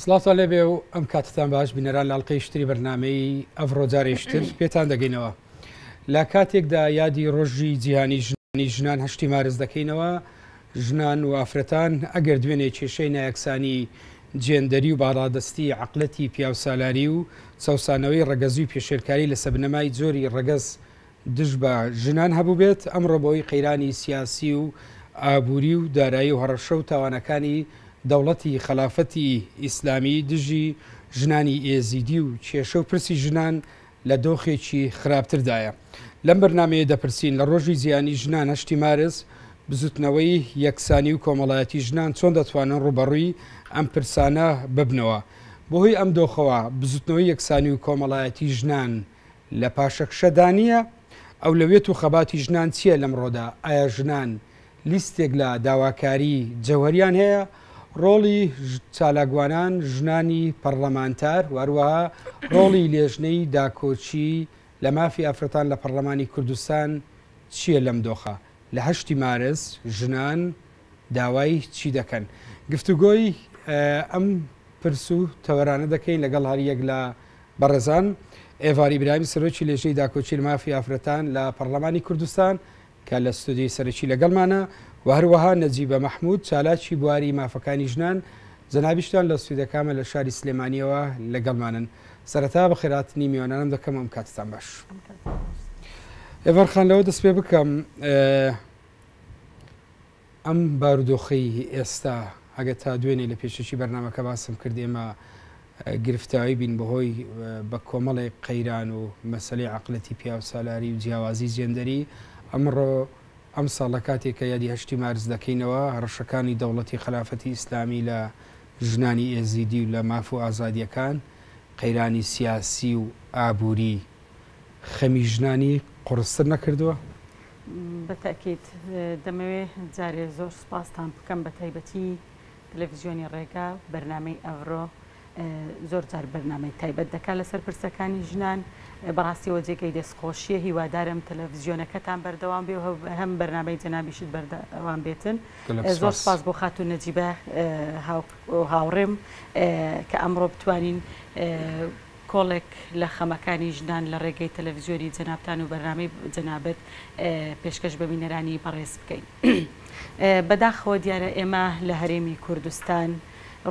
سڵاتان لێ بێ و ئەم کاتتان باش بینەران لاڵقەی شتری بەرنمەی ئەڤڕۆجارێشتر پێتان دەگەینەوە لە کاتێکدا یادی ڕۆژی جیهانی ژنی ژنان هەشتی مارز دەکەینەوە ژنان و ئافرەتان ئەگەر دوێنێ کێشەی نایەکسانی جێندەری و باڕادستی عقلەتی پیاوسالاری و چەسانەوەی ڕەگەزی و پێشێلکاری لە سەبنەمای جۆری ڕەگەز دژ بە ژنان هەبووبێت، ئەمڕۆ بەوەی قەیرانی سیاسی و ئابووری و دارایی و هەڕەشە و تاوانەکانی دەوڵەتی خەلافەتی ئیسلامی دژی ژنانی ئێزیدی و کێشە و پرسی ژنان لە دۆخێکی خراپتردایە لەم بەرنامەیە دەپرسین لە ڕۆژی جیهانی ژنان هەشتی مارس بزوتنەوەی یەکسانی و کۆمەڵایەتی ژنان چۆن دەتوانن ڕوبەڕووی ئەم پرسانە ببنەوە بەهۆی ئەم دۆخەوە بزوتنەوەی یەکسانی و کۆمەڵایەتی ژنان لە پاشەکشەدا نییە؟ ئەولەویەت و خەباتی ژنان چییە لەمڕۆدا؟ ئایا ژنان لیستێک لە داواکاری جەوهەریان هەیە؟ ڕۆڵی چالاکوانان، ژنانی پەڕڵەمانتار و هەروەها ڕۆڵی لێژنەی داکۆکی لە مافی ئافرەتان لە پەڕڵەمانی کوردستان چییە لەم دۆخە؟ لە هەشتی مارس ژنان داوای چی دەکەن؟ گفتوگۆی ئەم پرس و تەوەرانە دەکەین لەگەڵ هەریەک لە بەڕێزان ئێڤار ئیبراهیم سەرۆکی لێژنەی داکۆکیی مافی ئافرەتان لە پەڕڵەمانی کوردستان کە لە ستۆدیۆی سەرەکی لەگەڵمانە و هەروەها نەجیبە مەحموود چالاکی بواری مافەکانی ژنان جەنابیشتان لە ستۆدیۆکەمە لە شاری سلێمانییەوە لەگەڵمانن سەرەتا بەخێرهاتنی میوانانم دەکەم و ئەم کاتتان باش ئێڤار خان لەوە دەست پێ بکەم ئەم بارودۆخەی ئێستا ئەگەر تا دوێنێ لە پێشەکی بەرنامەکە باسم کرد ئێمە گرفتاوی بین بەهۆی بە کۆمەڵێک قەیران و مەسەلەی عەقلەتی پیاوسالاری و جیاوازی جێندەری ئەمڕۆ ئەم ساڵ لە کاتێک کە یادی هەشتی مارس دەکەینەوە هەڕەشەکانی دەوڵەتی خەلافەتی ئیسلامی لە ژنانی ئێزیدی و لە ماف و ئازادیەکان قەیرانی سیاسی و ئابوری خەمی ژنانی قوڕستر نەکردووە؟ بە تەئکید. دەمەوێ جارێ زۆر سوپاستان بکەم بە تایبەتی تەلەفزیۆنی ڕێگا بەرنامەی ئەڤرۆ زۆر جار بەرنامەی تایبەت دەکا لە سەر پرسەکانی ژنان بەڕاستیەوە جێگەی دەست خۆشیە هیوادارم تەلەفزیۆنەکەتان بەردەوام بێ هەم بەرنامەی جەنابیشت بەردەوام بێتن زۆر سپاس بۆ خاتو نەجیبە هاوڕێم کە ئەمڕۆ بتوانین کۆڵێک لە خەمەکانی ژنان لە ڕێگەی تەلەڤزیۆنی جەنابتان و بەرنامەی جەنابت پێشکەش بە بینەرانی بەڕێز بکەین. بەداخەوە دیارە ئێمە لە هەرێمی کوردستان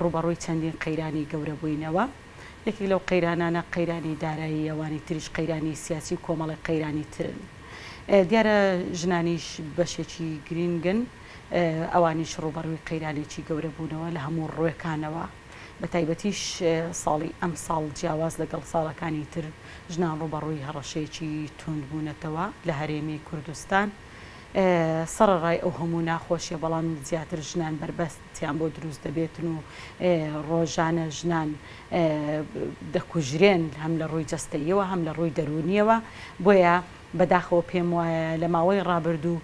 ڕووبەڕووی چەندین قەیرانی گەورە بووینەوە. یەکێک لەو قەیرانانە قەیرانی دارایی، ئەوانی تریش قەیرانی سیاسی و کۆمەڵێک قەیرانی ترن. دیارە ژنانیش بەشێکی گرینگن، ئەوانیش ڕووبەڕووی قەیرانێکی گەورە بوونەوە لە هەموو ڕوێکانەوە. بەتایبەتیش ساڵی ئەمساڵ جیاواز لەگەڵ ساڵەکانی تر ژنان ڕووبەڕووی هەڕەشەیەکی تووند بوونەتەوە لە هەرێمی کوردستان سەڕەڕای ئەو هەموو ناخۆشیە بەڵام زیاتر ژنان بەربەستیان بۆ دروست دەبێتن و ڕۆژانە ژنان دەکوژرێن هەم لە ڕووی جەستەیەوە هەم لە ڕووی دەرونیەوە بۆیە بەداخەوە پێم وایە لە ماوەی ڕابردوو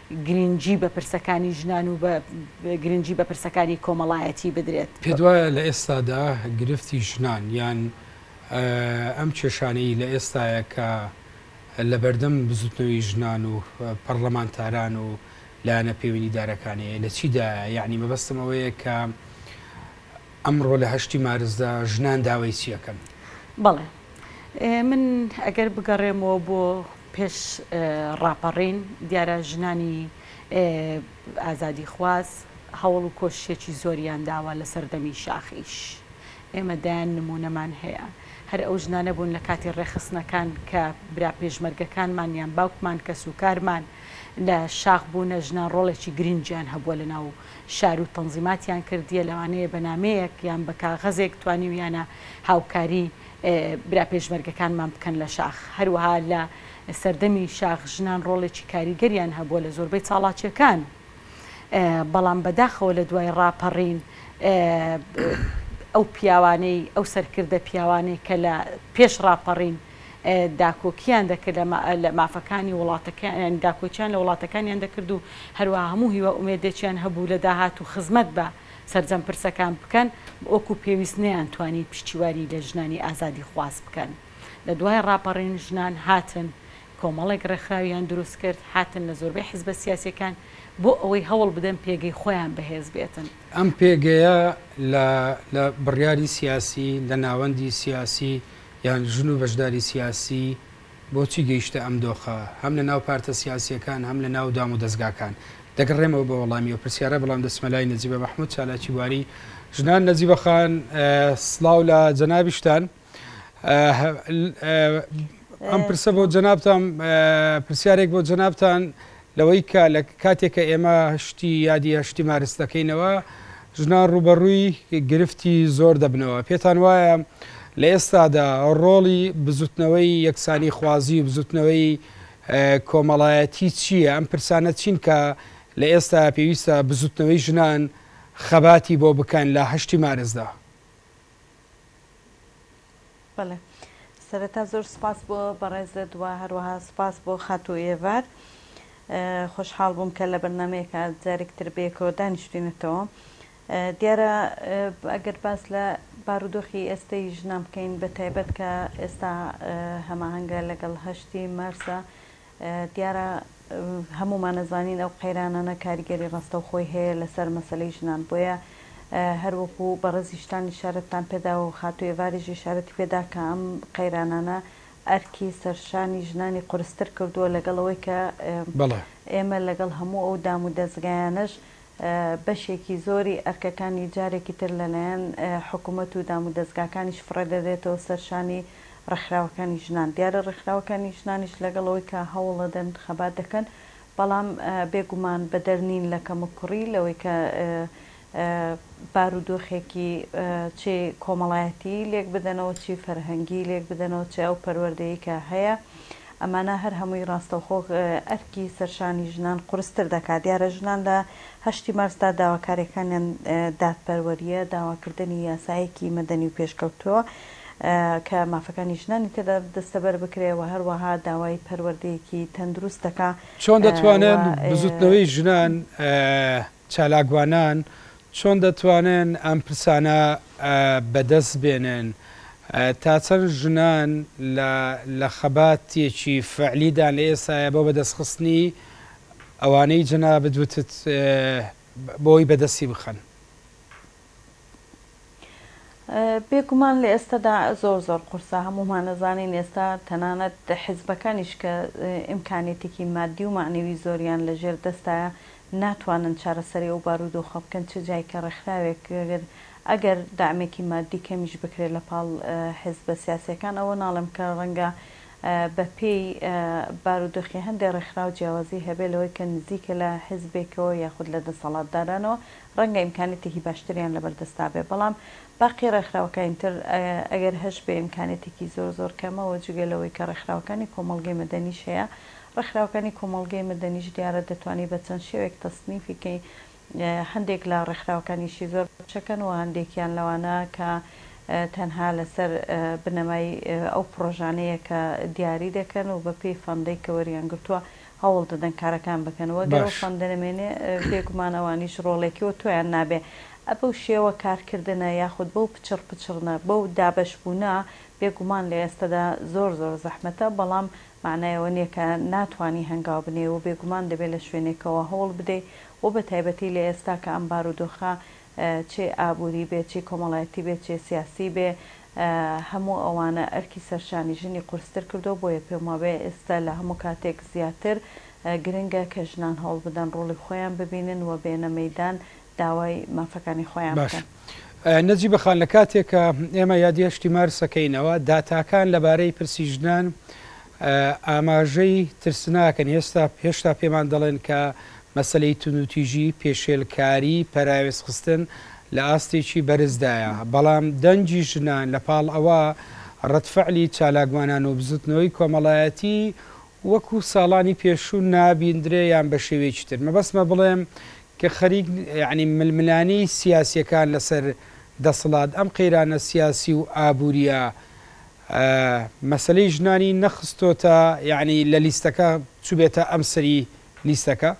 گرنگی بە پرسەکانی ژنان و بە گرنگی بە پرسەکانی کۆمەڵایەتی بدرێت. پێت وایە لە ئێستادا گرفتی ژنان یان ئەم کێشانەی لە ئێستایە کە لەبەردەم بزوتنەوەی ژنان و پەڕلەمانتاران و لایەنە پێوەندیدارەکانەیە لە چیدایە؟ یانی مەبەستم ئەوەیە کە ئەمڕۆ لە هەشتی مارسدا ژنان داوای چی ئەکەن؟ بەڵێ من ئەگەر بگەڕێمەوە بۆ پێش ڕاپەڕین دیارە ژنانی ئازادیخواز هەوڵ و کۆششێکی زۆریان داوە لە سەردەمی شاخیش ئێمە دەیان نموونەمان هەیە هەر ئەو ژنانە بوون لە کاتی ڕێکخستنەکان کە برا پێشمەرگەکانمان یان باوکمان کەسوکارمان لە شاخ بوونە ژنان ڕۆڵێکی گرنگیان هەبووە لە ناو شار و تەنزیماتیان کردیە لەوانەیە بە نامەیەک یان بە کاغەزێک توانیویانە هاوکاری برا پێشمەرگەکانمان بکەن لە شاخ. هەروەها لە سەردەمی شاخ ژنان ڕۆڵێکی کاریگەریان هەبووە لە زۆربەی چاڵاکیەکان بەڵام بەداخەوە لە دوای ڕاپەڕین ئەو پیاوانەی ئەو سەرکردە پیاوانەی کە لە پێش ڕاپەڕین داکۆکیان دەکرد لە مافەکانی وڵاتەکەیان داکۆچیان لە وڵاتەکانیان دەکرد و هەروە هەموو هیوا ئومێدێکیان هەبوو لە داهات و خزمەت بە سەرجەم پرسەکان بکەن وەکو پێویست نەیانتوانی پشتیوانی لە ژنانی ئازادیخواز بکەن لە دوای ڕاپەڕین ژنان هاتن کۆمەڵێک ڕێکخراویان دروست کرد هاتن لە زۆربەی حزبە سیاسیەکان بۆ ئەوەی هەوڵ بدەن پێگەی خۆیان بەهێز بێتن. ئەم پێگەیە لە لە بڕیاری سیاسی لە ناوەندی سیاسی یان ژن و بەشداری سیاسی، بۆچی گەیشتە ئەم دۆخە هەم لە ناو پارتە سیاسییەکان هەم لە ناو دام و دەزگاکان؟ دەگەڕێمەوە بۆ وەڵامی ئەو پرسیارە بەڵام دەچمە لای نەجیبە مەحمود چالاکی بواری ژنان نەجیبە خان سڵاو لە جەنابیشتان ئەم پرسە بۆ جەنابتان پرسیارێک بۆ جەنابتان لەوەی کە لە کاتێک کە ئێمە شتی یادی یا شتی مارس دەکەینەوە ژنان ڕووبەڕووی گرفتی زۆر دەبنەوە پێتان وایە لە ئێستادا ڕۆڵی بزوتنەوەی یەکسانی خوازی و بزوتنەوەی کۆمەڵایەتی چییە ئەم پرسانە چین کە لە ئێستا پێویستە بزوتنەوەی ژنان خەباتی بۆ بکەن لە هەشتی مارسدا؟ بەڵێ سەرەتا زۆر سوپاس بۆ بەڕێزت و هەروەها سوپاس بۆ خاتوو ئێڤار خۆشحاڵ بووم کە لە بەرنمەیەکە جارێک تر بەیەکەوە دانیشتوینەتەوە دیارە ئەگەر باس لە بارودۆخی ئێستەی ژنان بکەین بە تایبەت کە ئێستا هەماهەنگە لەگەڵ هەشتی مارسە دیارە هەموومان ئەزانین ئەو قەیرانانە کاریگەری ڕاستەوخۆی هەیە لەسەر مەسەلەی ژنان، بۆیە هەر وەکو بەڕێزی شتان ئیشارەتتان پێداوە و خاتوو ئێڤاریش ئیشارەتی پێدا کە ئەم قەیرانانە ئەرکی سەرشانی ژنانی قورستر کردووە لەگەڵ ئەوەی کە ئێمە لەگەڵ هەموو ئەو دامودەزگایانەش بەشێکی زۆری ئەرکەکانی جارێکی تر لەلایەن حکومەت و دامودەزگاکانیش فڕێدەدرێتەوە سەر شانی ڕێکخراوەکانی ژنان، دیارە ڕێکخراوەکانی ژنانیش لەگەڵ ئەوەی کە هەوڵەدەن خەبات دەکەن، بەڵام بێگومان بەدەر نین لە کەموکوڕی لەوەی کە بارودۆخێکی چی کۆمەڵایەتیی لێک بدەنەوە، چی فەرهەنگیی لێک بدەنەوە، چ ئەو پەروەردەیەی کە هەیە. ئەمانە هەر هەمووی ڕاستەوخۆ ئەرکی سەرشانی ژنان قورستر دەکات. دیارە ژنان لە هەشتی مارسدا داواکاریەکانیان دادپەروەریە، داواکردنی یاسایەکی مەدەنی و پێشکەوتوە کە مافەکانی ژنانی تێدا دەستەبەر بکرێ و هەروەها داوای پەروەردەیەکی تەندروست دەکا چۆن دەتوانن و بزوتنەوەی ژنان چالاکوانان چۆن دەتوانن ئەم پرسانە بەدەست بێنن؟ تا چەند ژنان لە خەباتێکی فەعلیدان لە ئێستایا بۆ بەدەستخستنی ئەوانەی جەنابت وتت بۆی بەدەستی بخەن؟ بێگومان لە ئێستەدا زۆر زۆر قورسە، هەموومان ئەزانین ئێستا تەنانەت حزبەکانیش کە ئیمکانیەتێکی مادی و مەعنەوی زۆریان لە ژێر دەستایە ناتوانن چارەسەری ئەو بارودۆخە بکەن چ جای کە ڕێکخراوێک ئەگەر دەعمێکی مادی کەمیش بکرێت لە پاڵ حزبە سیاسیەکان ئەوە ناڵێم کە ڕەنگە بە پێی بارودۆخی هەندێ ڕێکخراو جیاوازی هەبێت لەوەی کە نزیکە لە حزبێکەوە یاخود لە دەسەڵاتدارانەوە ڕەنگە ئیمکانیەتێکی باشتریان لەبەردەستدا بێت، بەڵام باقی ڕێکخراوەکانی تر ئەگەر هەشبێ ئیمکانیەتێکی زۆر زۆر کەمە و جگە لەوەی کە ڕێکخراوەکانی کۆمەڵگەی مەدەنیش هەیە، ڕێکخراوەکانی کۆمەڵگەی مەدەنیش دیارە دەتوانی بە چەند شێوەیەک تەسنیفی کەی، هەندێک لە ڕێکخراوەکانیشی زۆر بچەکەن و هەندێکیان لەوانە کە تەنها لەسەر بنەمای ئەو پڕۆژانەیە کە دیاری دەکەن و بەپێی فەندەی کە وەریان گرتووە هەوڵ دەدەن کارەکان بکەن وە گەر ئەو باش. فەندە نەمێنێ بێ گومان ئەوانیش ڕۆڵێکی وە تۆیان نابێ ئە بەو شێوە کار کردنە یاخود بەو پچڕ پچڕنە بەو دابەش بوونە بێ گومان لە ئێستەدا زۆر زۆر زەحمەتە بەڵام مەعنای ئەوە نیە کە ناتوانی هەنگاو بنێی وە بێ گومان دەبێ لە شوێنێکەوە هەوڵ بدەی وە بە تایبەتی لە ئێستا کە ئەم بارودۆخە چێ ئابووری بێ چی کۆمەڵایەتی بێ چێ سیاسی بێ هەموو ئەوانە ئەرکی سەرشانی ژنی قورستر کردووە، بۆیە پێموابێ ئێستا لە هەموو کاتێک زیاتر گرنگە کە ژنان هەوڵبدەن ڕۆڵی خۆیان ببینن و بێنە مەیدان داوای مافەکانی خۆیان باش بکەن. نەجیبە خان، لە کاتێک کە ئێمە یادی هەشتی مارسەکەینەوە، داتاکان لەبارەی پرسی ژنان ئاماژەی ترسناکن، هێشتا پێمان دەڵێن کە مەسەلەی توندوتیژی، پێشێلکاری، پەراوێزخستن لە ئاستێکی بەرزدایە، بەڵام دەنگی ژنان لە پاڵ ئەوە ڕەدفعلی چالاکوانانەو بزوتنەوەی کۆمەڵایەتی وەکو ساڵانی پێشوو نابیندرێ یان بە شێوەیەکی تر مەبەستمە بڵێم کە خەریک یانی ململانێی سیاسیەکان لەسەر دەسڵات ئەم قەیرانە سیاسی و ئابوریە مەسەلەی ژنانی نەخستۆتە یەعنی لە لیستەکە چوبێتە ئەم سەری لیستەکە؟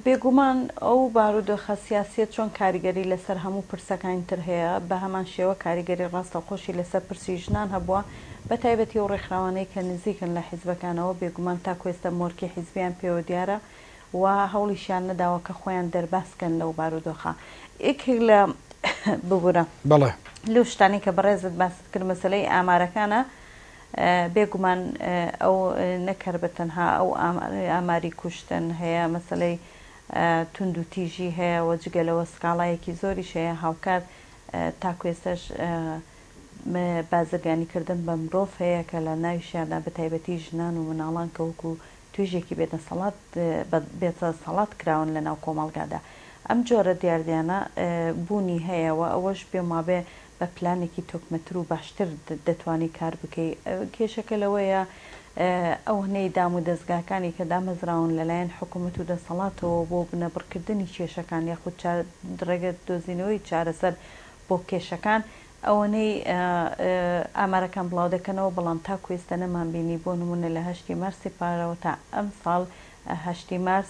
بێگومان ئەو بارودۆخە سیاسیە چۆن کاریگەری لەسەر هەموو پرسەکانی تر هەیە بەهەمان شێوە کاریگەری ڕاستەوخۆشی لەسەر پرسی ژنان هەبووە بەتایبەتی ئەو ڕێکخراوانەی کە نزیکن لە حیزبەکانەوە بێگومان تاکو ئێستا مۆرکی حیزبیان پێوە دیارە و هەوڵیشیان نەداوە کە خۆیان دەرباز بکەن لەو بارودۆخە یەکێک لە ببورە بەڵێ لەو شتانەی کە بەڕێزت باست کرد مەسلەی ئامارەکانە بێگومان ئەو نەکەر بە تەنها ئەو ئاماری کوشتن هەیە مەسلەی تونند و تیژی هەیە وە جگە لەوە سکاڵایەکی زۆری شەیە هاوکات تاکوێسەش بازرگانی کردن بە مرۆڤ هەیە کە لە ناویشیاندا بە تایبەتی ژنان و مناڵان کە وەکو توێژێکی بێ دەسەڵات بێ دەسەڵات کراون لە ناو کۆمەڵگادا ئەم جۆرە دیاردەیانە بوونی هەیە وە ئەوەش پێم وابێ بە پلانێکی تۆکمەتر و باشتر دەتوانی کار بکەی کێشەکە لەوەیە ئەونەی دام و دەزگاکانی کە دامەزراون لە لایەن حکومەت و دەسەڵاتەوە بۆ بنەبڕکردنی کێشەکان یاخود ڕێگە دۆزینەوەی چارەسەر بۆ کێشەکان ئەوەنەی ئامارەکان بڵاو دەکەنەوە، بەڵام تاکو ئێستا نەمانبینی بۆ نموونە لە هەشتی مارسی پارەوە تا ئەمساڵ هەشتی مارس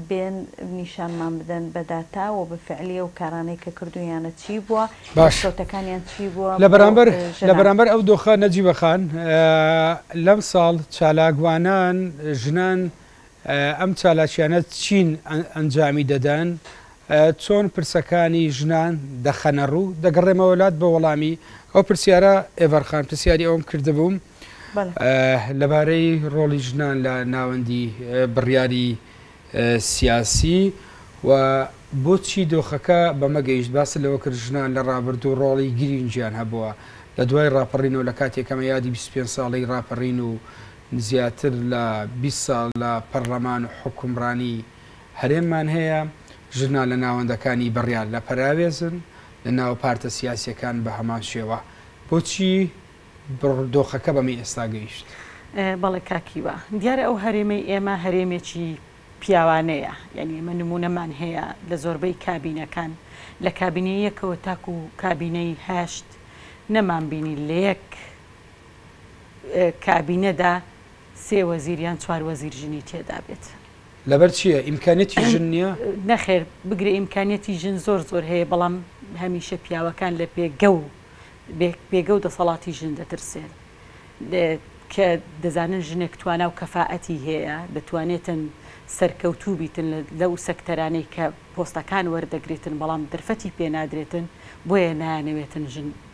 بێن نیشانمان بدەن بە داتا و بە فعلی ئەو کارانەی کە کردوویانە چی بووە، دەستکەوتەکانیان چی بووە بۆ ژنان. لە بەرامبەر ئەو دۆخە نەجیبە خان، لەمساڵ چالاکوانان ژنان ئەم چالاکیانە چین ئەنجامی دەدەن؟ چۆن پرسەکانی ژنان دەخەنە ڕوو؟ دەگەڕێمەوە لات بۆ وەڵامی ئەو پرسیارە ئێڤەرخان پرسیاری ئەوم کردبووم لەبارەی ڕۆڵی ژنان لە ناوەندی بڕیاری سیاسی و بۆچی دۆخەکە بەمە گەیشت باس لەوە کرد ژنان لە ڕابردوو ڕۆڵی گرینگیان هەبووە لە دوای ڕاپەڕینەوە لە کاتێکەمە یادی 25 ساڵی ڕاپەڕین و زیاتر لە بیست ساڵ لە پەڕڵەمان و حوکمڕانی هەرێممان هەیە، ژورنالە ناوەندەکانی بڕیار لە پەراوێزن، لە ناو پارتە سیاسیەکان بە هەمان شێوە، بۆچی بڕ دۆخەکە بەمەی ئێستا گەیشت؟ بەڵێ کاک هیوا، دیارە ئەو هەرێمەی ئێمە هەرێمێکی پیاوانەیە، یانی ئێمە نمونەمان هەیە لە زۆربەی کابینەکان، لە کابینەی یەکەوە تاکو کابینەی هەشت نەمانبینی لە یەک، کابینەدا سێ وەزیر یان چوار وەزیر ژنی تێدا بێت. لەبەر چییە؟ ئیمکانیەتی ژن نییە؟ نەخێر، بگرە ئیمکانیەتی ژن زۆر زۆر هەیە، بەڵام هەمیشە پیاوەکان لە پێگە و پێگە و دەسەڵاتی ژن دەترسێن. کە دەزانن ژنێک توانا و کەفائەتی هەیە، دەتوانێتن سەرکەوتوو بیتن لەو سەکتەرانەی کە پۆستەکان وەردەگرێتن، بەڵام دەرفەتی پێنادرێتن، بۆیە نایانەوێتن ژن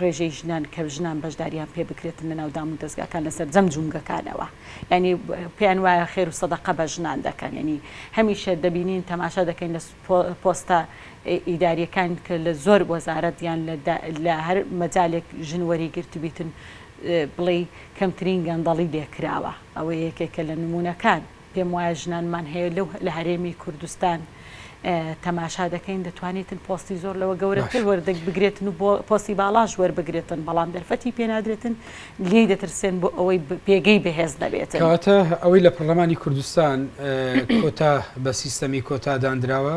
ڕێژەی ژنان کە ژنان بەشداریان پێ بکرێتن لەناو دامودەزگاکان لە سەرجەم جومگەکانەوە یانی پێیان وایە خێر و سەدەقە بە ژنان دەکەن یانی هەمیشە دەبینین تەماشا دەکەین لە پۆستە ئیداریەکان کە لە زۆر وەزارەت یان لە هەر مەجالێک ژن وەری گرتبیتن بڵێ کەمترین گەندەڵی لێکراوە ئەوە یەکێکە لە نمونونەکان. پێم وایە ژنانمان هەیە لەو لە هەرێمی کوردستان تەماشا دەکەین دەتوانێتن پۆستی زۆر لەوە گەورەتر وەردەک بگرێتن و بۆ پۆستی باڵاش وەربگرێتن بەڵام دەرفەتی پێنادرێتن لێی دەترسێن بۆ ئەوەی پێگەی بەهێز نەبێت کەواتە ئەوەی لە پەرلەمانی کوردستان کۆتا بە سیستەمی کۆتاداندراوە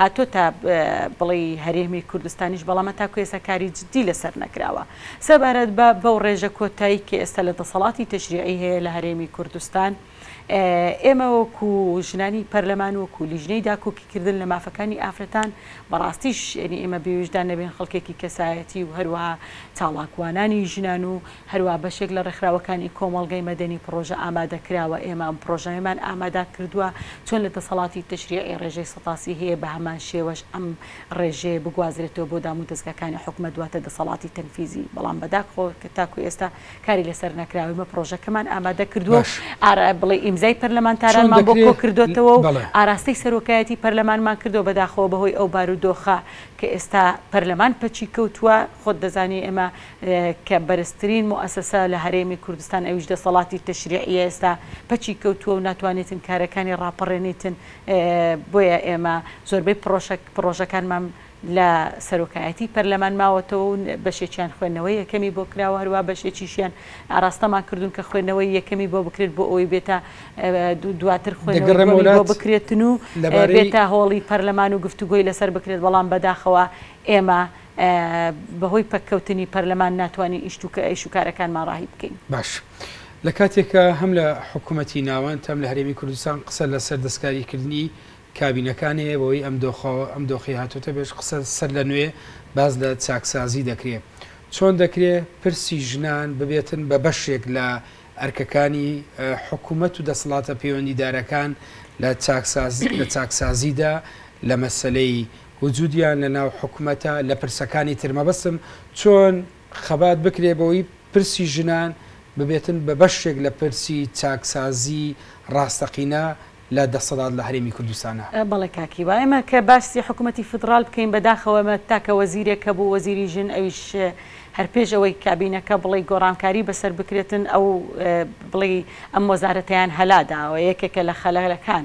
هاتۆتە بڵی هەرێمی کوردستانیش بەڵام هەتاکو ئێستا کاری جدی لەسەر نەکراوە سەبارەت بە بەو ڕێژە کۆتای کە ئێستا لە دەسەڵاتی تەشریعی هەیە لە هەرێمی کوردستان ئێمە وەکو ژنانی پەرلەمان وەکو لیژنەی داکۆکی کردن لە مافەکانی ئافرەتان بەڕاستیش یعنی ئێمە بێویژدان نەبێن خەڵکێکی کەسایەتی و هەروەها چاڵاکوانانی ژنان و هەروا بەشێک لە ڕێکخراوەکانی کۆمەڵگەی مەدەنی پڕۆژە ئامادە کراوە، ئێمە ئەم پڕۆژەیەمان ئامادا کردووە، چۆن لە دەسەڵاتی تەشریعی ڕێژەی سەتاسی هەیە بە هەمان شێوەش ئەم ڕێژەیە بگوازرێتەوە بۆ دامودەزگاکانی حکومەت واتە دەسەڵاتی تەنفیزی بەڵام بە داخەوە کە تاکو ئێستا کاری لەسەر نەکراوە، ئێمە پڕۆژەکەمان ئامادە کردووە و باش ئارا بڵێی ئیمزای چۆن پەرلەمانتارانمان بۆ دەکرێ کۆکردۆتەوە و بەڵێ. ئاراستەی سەرۆکایەتی پەرلەمانمان کردووە بە داخەوە بەهۆی ئەو بارودۆخە کە ئێستا پەرلەمان پەکی کەوتووە خۆت دەزانی ئێمە کە بەرزترین موئەسەسە لە هەرێمی کوردستان ئەویش دەسەڵاتی تەشریعیە ئێستا پەکی کەوتووە و ناتوانێتن کارەکانی ڕاپەڕێنیتن بۆیە ئێمە زۆربەی پڕۆژەکانمان لە سەرۆکایەتی پەرلەمان ماوەتەوە و بەشێکیان خوێندنەوەی یەکەمی بۆ کراوە هەروە بەشێکیشیان ئاراستەمان کردوون کە خوێندنەوەی یەکەمی بۆ بکرێت بۆ ئەوەی بێتە دواتر خوێنەوەی بۆ بکرێتن و بێتە هۆڵی پەرلەمان و گفتوگۆی لەسەر بکرێت بەڵام بەداخەوە ئێمە بەهۆی پەککەوتنی پەرلەمان ناتوانین ئیش و کارەکانمان ڕاهی بکەین. باش لە کاتێکا هەم لە حکومەتی ناوەند هەم لە هەرێمی کوردستان قسە لە سەر دەستکاریکردنی کابینەکان هەیە بەوەی ئەم دۆخە ئەم دۆخەی هاتۆتە پێش قسە سەر لە نوێ باس لە چاکسازی دەکرێ چۆن دەکرێ پرسی ژنان ببێتن بە بەشێک لە ئەرکەکانی حکومەت و دەسڵاتە پەیوەندیدارەکان لە چاکسازی لە چاکسازیدا لە مەسەلەی وجودیان لە ناو حکومەتە لە پرسەکانی تر مەبەستم چۆن خەبات بکرێ بەوەی پرسی ژنان ببێتن بە بەشێک لە پرسی چاکسازی ڕاستەقینە لە دەسەڵات لە هەرێمی کوردستانا. بەڵێ کاک هیوا ئێمە کە باسی حکومەتی فیدڕال بکەین بەداخەوە ئێمە تاکە وەزیرێک هەبوو وەزیری ژن ئەویش هەر پێش ئەوەی کابینەکە بڵێی گۆڕانکاری بەسەر بکرێتن ئەو بڵێی ئەم وەزارەتەیان هەلا داوە یەکێکە لە خەلەلەکان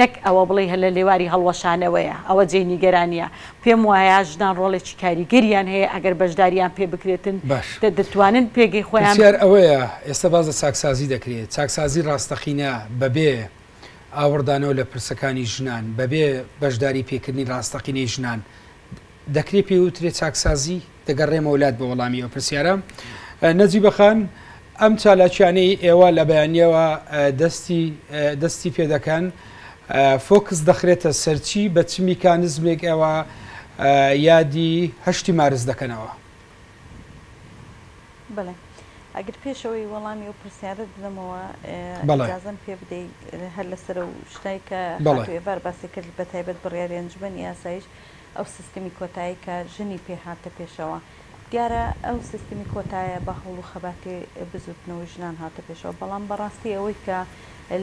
نەک ئەوە بڵێی هەر لە لێواری هەڵوەشانەوەیە، ئەوە جێی نیگەرانییە. پێم وایە ژنان ڕۆڵێکی کاریگەریان هەیە، ئەگەر بەشدارییان پێ بکرێتن، باش. دەتوانن پێگەی خۆیان. پرسیار ئەوەیە ئێستا باس لە چاکسازی دەکرێت، چاکسازی ڕاستەقینە بەبێ ئاوڕدانەوە لە پرسەکانی ژنان، بەبێ بەشداری پێکردنی ڕاستەقینەی ژنان دەکرێ پێی وترێ چاکسازی؟ دەگەڕێمەوە لات بۆ وەڵامی ئەو پرسیارە. نەجیبە خان، ئەم چالاکیانەی ئێوە لە بەیانیەوە دەستی پێ دەکەن، فۆکس دەخرێتە سەرچی، بە چ میکانزمێک ئێوە یادی هەشتی مارس دەکەنەوە؟ بەڵێ ئەگر پێشەوەی وەڵامی و پرسیارت بدەمەوە ئجازم پێ بدەی هەر لەسەر و شتای کە بەێبار باسی کرد بە تایبەت بڕیاری ئەنجومەنی یاسایش ئەو سیستمی کۆتایی کە ژنی پێ هاتە پێشەوە دیارە ئەو سیستمی کۆتایە بە هەوڵ و خەباتی بزوتنەوەی ژنان هاتە پێشەوە بەڵام بەڕاستی ئەوەی کە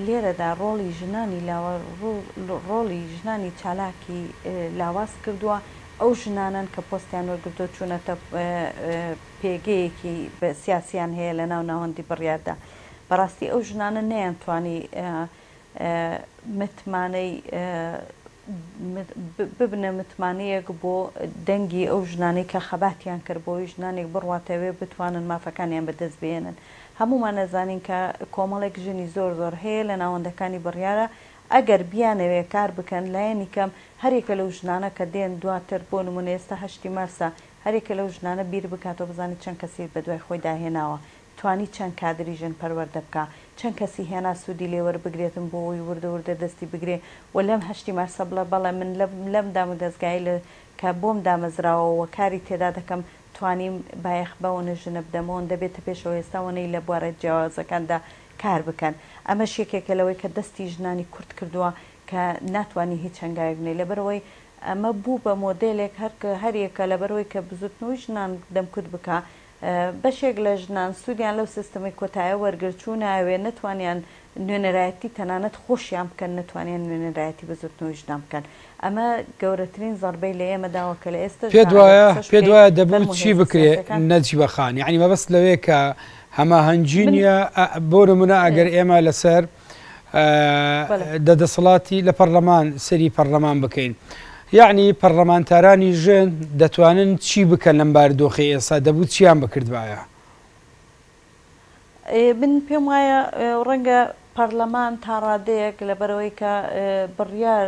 لێرەدا ڕۆڵی ژنانی لاوە ڕۆڵی ژنانی چالاکی لاواز کردووە ئەو ژنانەن کە پۆستیان وەرگرتووە چوونەتە پێگەیەکی سیاسییان هەیە لە ناو ناوەندی بڕیاردا، بەڕاستی ئەو ژنانە نەیانتوانی متمانەی ببنە متمانەیەک بۆ دەنگی ئەو ژنانەی کە خەباتیان کرد بۆی ژنانێک بڕواتە وێ بتوانن مافەکانیان بەدەست بێنن هەموومان ئەزانین کە کۆمەڵێک ژنی زۆر زۆر هەیە لە ناوەندەکانی بڕیارە ئەگەر بیانەوێ کار بکەن لایەنی کەم هەر یەکە لەو ژنانە کە دێن دواتر بۆ نموونە ئێستا هەشتی مارسە هەر یەکە لەو ژنانە بیر بکاتەوە بزانێ چەند کەسی بە دوای خۆیدا هێناوە توانی چەند کادری ژن پەروەردە بکا چەند کەسی هێنا سوودی لێ وەربگرێتن بۆ ئەوەی وردە وردە دەستی بگرێ و لەم هەشتی مارسە بڵێ بەڵێ من لەم دامودەزگایەی لە کە بۆم دامەزراوە و کاری تێدا دەکەم توانیم بایەخ بەونە ژنە بدەمەوە دەبێتە پێشەوە ئێستا وەنەی لە بوارە جیاوازەکاندا کار بکەن، ئەمەش یەکێکە لەوەی کە دەستی ژنانی کورد کردووە کە ناتوانی هیچ هەنگاوێک بنێی لەبەرئەوەی ئەمە بوو بە مۆدێلێک هەر هەر یەکە لەبەرئەوەی کە بزوتنەوەی ژنان دەمکوت بکا بەشێک لە ژنان سودیان لەو سیستەمەی کۆتایە وەرگرت چونایەوێ نەتوانیان نوێنەرایەتی تەنانەت خۆشیان بکەن نەتوانیان نوێنەرایەتی بزوتنەوەی ژنان بکەن ئەمە گەورەترین زەڕبەی لە ئێمە داوە کە لە ئێستەش دا پێت ئەگەر وایە قسەش پێت بکەی وایە دەبوو فەرموو چی هێزە بکرێ سیاسیەکان نەجیبە خان یەعنی مەبەست لەوەیە کە هەماهەنگی من نیە ئە بۆ نمونە ئەگەر ئێ ئێمە لەسەر ئە بەڵێ دە دەسەڵاتی لە پەڕلەمان سەیری پەڕلەمان بکەین یەعنی پەڕلەمانتارانی ژن دەتوانن چی بکەن لەم باردۆخەی ئێستا دەبوو چیان بکردبایە؟ من پێم وایە ڕەنگە پەرلەمان تا ڕادەیەک لەبەرەوەی کە بڕیار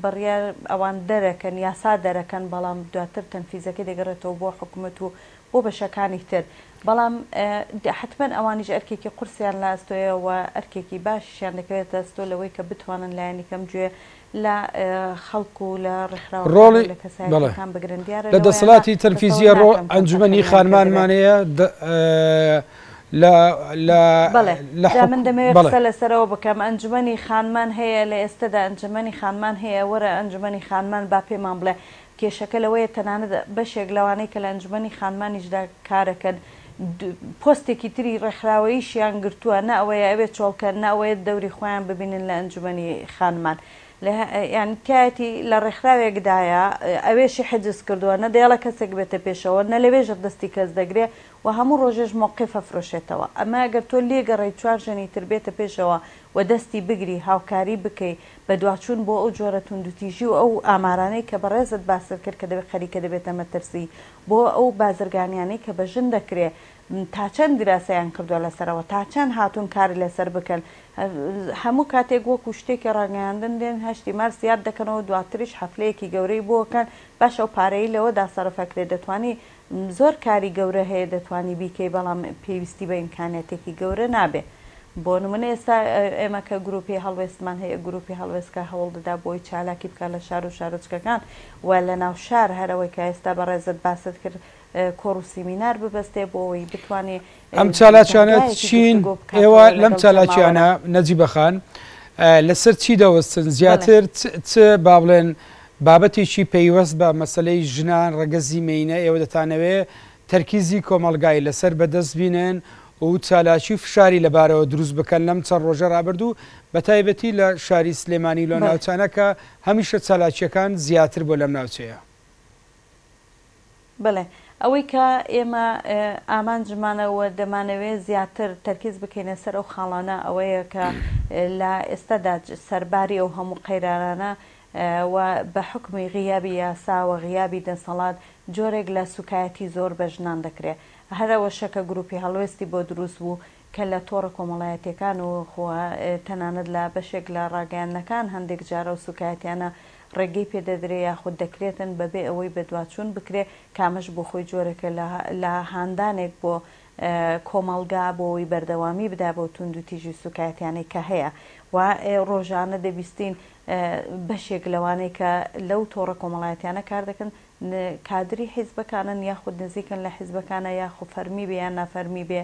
بڕیار ئەوان دەرەکەن یاسا دەرەکەن بەڵام دواتر تەنفیزەکەی دەگەڕێتەوە بۆ حکوومەت و بۆ بەشەکانی تر بەڵام حتمما ئەوانیش ئەرکێکی قورسیان لاستۆیەوە ئەرکێکی باشیشیان دەکەوێتە ئەستۆ لەوەی کە بتوانن لایەنی کەم گوێ لە خەڵک و لە ڕێکخراوەکان و لە کەسایەتییەکان بگرن دیارە لەوەیە. لە دەسەڵاتی تەنفیزییە ڕۆ ئەنجومەنی خانمانمان هەیە لە بەڵێ لە حکومەت. جا من دەمەوێ قسە لەسەرەوە بکەم ئەنجومەنی خانمان هەیە لە ئێستەدا ئەنجومەنی خانمان هەیە وەرە ئەنجومەنی خانمان با پێمان بڵێ کێشەکە لەوەیە تەنانەت بەشێک لەوانەی کە لە ئەنجومەنی خانمانیشدا کارەکەن پۆستێکی تری ڕێکخراوەییشیان گرتووە نە ئەوەیە ئەوێ چۆڵکەن نە ئەوەیە دەوری خۆیان ببینن لە ئەنجومەنی خانمان یانی تایەتی لە ڕێکخراوێکدایە ئەوێشی حجز کردووە نە دەیڵە کەسێک بێتە پێشەوە نە لەوێژە دەستی کەس دەگرێ و هەموو ڕۆژێش مۆقیفە فرۆشێتەوە ئەمە گەر تۆ لێگەڕێی چوار ژەنی تر بێتە پێشەوە و دەستی بگری هاوکاری بکەی بەدواچوون بۆ ئەو جۆرە توندوتیژی و ئەو ئامارانەی کە بەڕێزت باست کرد کە دەبێت خەریکە دەبێتە مەترسی بۆ ئەو بازرگانیانەی کە بە ژن دەکرێ تاچەند دراسەیان کردوە لەسەرەوە تاچەند هاتوون کار لەسەر بکەن هەموو کاتێک وەکو شتێکی ڕاگەیاندن دێن هەشتی مارس یاد دەکەنەوە دواتریش حەفلەیەکی گەورەی بۆ ئەکەن باش ئەو پارەی لەوەدا سەرف ئەکرێ دەتوانی زۆر کاری گەورە هەیە دەتوانی بیکەی بەڵام پێویستی بە ئیمکانیاتێکی گەورە نابێ بۆ نمونە ئێستا ئێمە کە گروپی هەڵوێستمان هەیە گروپی هەڵوێست کە هەوڵ دەدا بۆی چالاکی بکات لە شار و شارۆچکەکان و لەناو شار هەرەوەی کە ئێستا بەڕێزت باست کرد کۆڕ و سیمینار ببەستێ بۆ ئەوەی بتوانێ ئەم چالاکیانە چین ئێوە لەم چالاکیانە نەجیبەخان لەسەر چی دەوەستن زیاتر چ با بڵێن بابەتێکی پەیوەست بە مەسلەی ژنان ڕەگەزی مینە ئێوە دەتانەوێ تەرکیزی کۆمەلگای لەسەر بەدەست بینن و چالاکی فشاری لەبارەوە دروست بکەن لەم چەند ڕۆژە رابردوو بە تایبەتی لە شاری سلێمانی لە ناوچانەکە هەمیشە چالاکیەکان زیاتر بۆ لەم ناوچەیە بەڵێ، ئەوەی کە ئێمە ئامانجمانە و دەمانەوێت زیاتر تەرکیز بکەینە سەر ئەو خاڵانە ئەوەیە کە لە ئێستادا سەرباری ئەو هەموو قەیرانانە و بە حوکمی غیابی یاسا و غیابی دەسەڵات جۆرێک لە سووکایەتی زۆر بە ژنان دەکرێت، هەر ئەوەشە کە گرووپی هەڵوێستی بۆ دروست بوو کە لە تۆڕە کۆمەڵایەتییەکان و خۆ تەنانەت لە بەشێک لە ڕاگەیاندنەکان هەندێک جار ئەو سووکایەتییانە ڕێگەی پێ دەدرێ یاخود دەکرێتن بەبێ ئەوەی بەدواچوون بکرێ کە ئەمەش بۆ خۆی جۆرێکە لە لە هاندانێک بۆ کۆمەڵگا بۆ ئەوەی بەردەوامی بدا بەو توندوتیژی و سووکایەتییانەی کە هەیە و ڕۆژانە دەبیستین بەشێک لەوانەی کە لەو تۆڕە کۆمەڵایەتییانە کار دەکەن ن کادری حیزبەکانن یاخود نزیکن لە حیزبەکانە یاخو فەرمی بێ یان نافەرمی بێ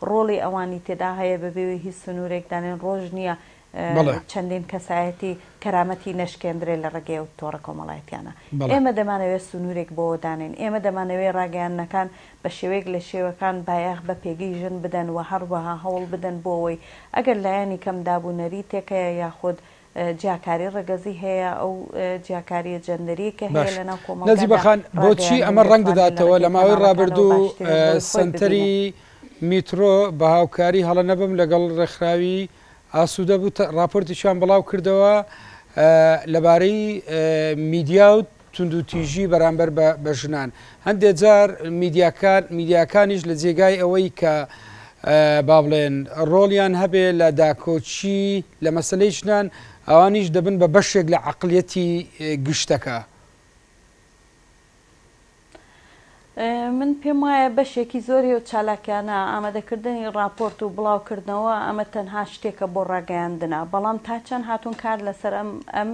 ڕۆڵی ئەوانی تێدا هەیە بەبێ هیچ سنورێک دانێن ڕۆژ نیە بەڵێ. چەندین کەسایەتی کەرامەتی نەشکێندرێ لە ڕێگەی ئەو تۆڕە کۆمەڵایەتیانە بەڵێ. ئێمە دەمانەوێ سنورێک بۆوە دانێن ئێمە دەمانەوێ ڕاگەیاندنەکان بە شێوەیەک لە شێوەکان بایەخ بە پێگەی ژن بدەن وە هەڕوەها هەوڵ بدەن بۆ ئەوەی ئەگەر لایەنی کەم داب و نەریتێک هەیە یاخود جیاکاری ڕەگەزی هەیە ئەو جیاکاریە جەندەریە کە هەیە لەناو کۆمەڵگادا باشە نەجیبە خان بۆچی ئەمە ڕەنگ دەداتەوە لە ماوەی ڕابردوو سەنتەری میترۆ بە هاوکاری هەڵە نەبم لەگەڵ ڕێکخراوی ئاسوودە بوو ڕاپۆرتیشیان بڵاو کردەوە لەبارەی میدیا و توندوتیژی بەرامبەر بە ژنان هەندێک جار میدیاکان میدیاکانیش لە جێگای ئەوەی کە با بڵێن ڕۆڵیان هەبێ لە داکۆکی لە مەسلەی ژنان ئەوانیش دەبن بە بەشێک لە عقلیەتی گشتەکە. من پێم وایە بەشێکی زۆری و چالاکیانە ئامادەکردنی ڕاپۆرت و بڵاوکردنەوە ئەمە تەنها شتێکە بۆ ڕاگەیاندنە بەڵام تا چەند هاتوون کار لەسەر ئەم ئەم